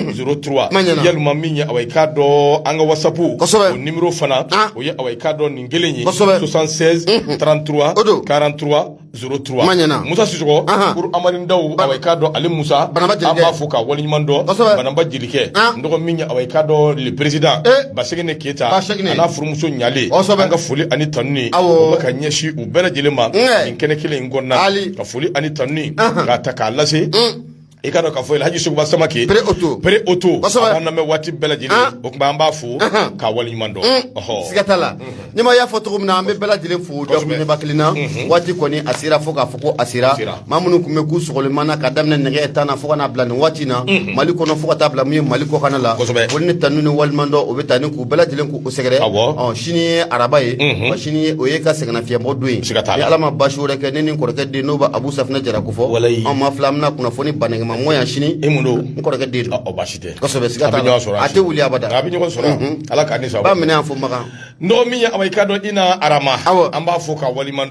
S3: 03 Ma ɲɛna. walima min ye awa i k'a dɔn an ka whatsapp Kosɛbɛ. o numéro fana An. o ye awa i k'a dɔn nin kelen ye Kosɛbɛ. 76 33 O don. 43 zéro trois ma ɲɛna musa sisɔkɔ kuru amadu daw awa i k'a dɔn ale musa banamba jelikɛ an b'a fo k'a waleɲuman dɔn kosɛbɛ banamba jelikɛ n dɔgɔ min ye awa i k'a dɔn le président eh. baseginɛ keyita basegin a n'a furumuso ɲalen kosɛbɛ an ka foli ani tanuni awɔ o bɛ ka ɲɛsin u bɛɛ lajɛlen ma nin kɛnɛ kelen in kɔnɔna ka foli ani tanuni k'a ta k'a lase mm. i k'a dɔn k'a fɔ Elhaji Sogoba Samake Pere Oto Pere Oto kosɛbɛ a b'an lamɛn waati bɛɛ lajɛlen ah. o tuma an b'a fo k'a waleɲuman dɔn mm. ɔhɔ siga t'a la mm-hmm.
S2: nima y'a fɔ cogo min na an bɛ bɛɛ lajɛlen fo dakuruɲɛba kelen na mm-hmm. waati kɔni a sera fo k'a fɔ ko a sera maa minnu tun bɛ k'u sɔgɔlenman na ka daminɛ nɛgɛ tan na fo ka n'a bila nin waati na mm-hmm. mali kɔnɔ fo ka taa bila min ye mali kɔkana la olu ni tanu ni waleɲuman dɔn o bɛ taa ni k'u bɛɛ lajɛlen k'u sɛgɛrɛ ɔ sini ye araba ye sini o ye ka sɛgɛnnafiɲɛbɔ don ye ni ala ma basi wɛrɛ kɛ ne ni n kɔrɔkɛ den n'o bɛ abu safinɛ jara walayi an maa fila an bɛna kunnafoniba nɛgɛma mɔ yan sini e mun don n kɔrɔkɛ den don ɔ basi tɛ kosɛbɛ siga t'a la a tɛ wuli abada an bɛ ɲɔgɔn sɔrɔ
S3: ala k'a ni sɔrɔ ba minɛ yan
S2: fo
S3: makan dɔgɔ min ye awa i k'a
S2: dɔn
S3: ina arama awɔ an b'a fo k'a waleɲuman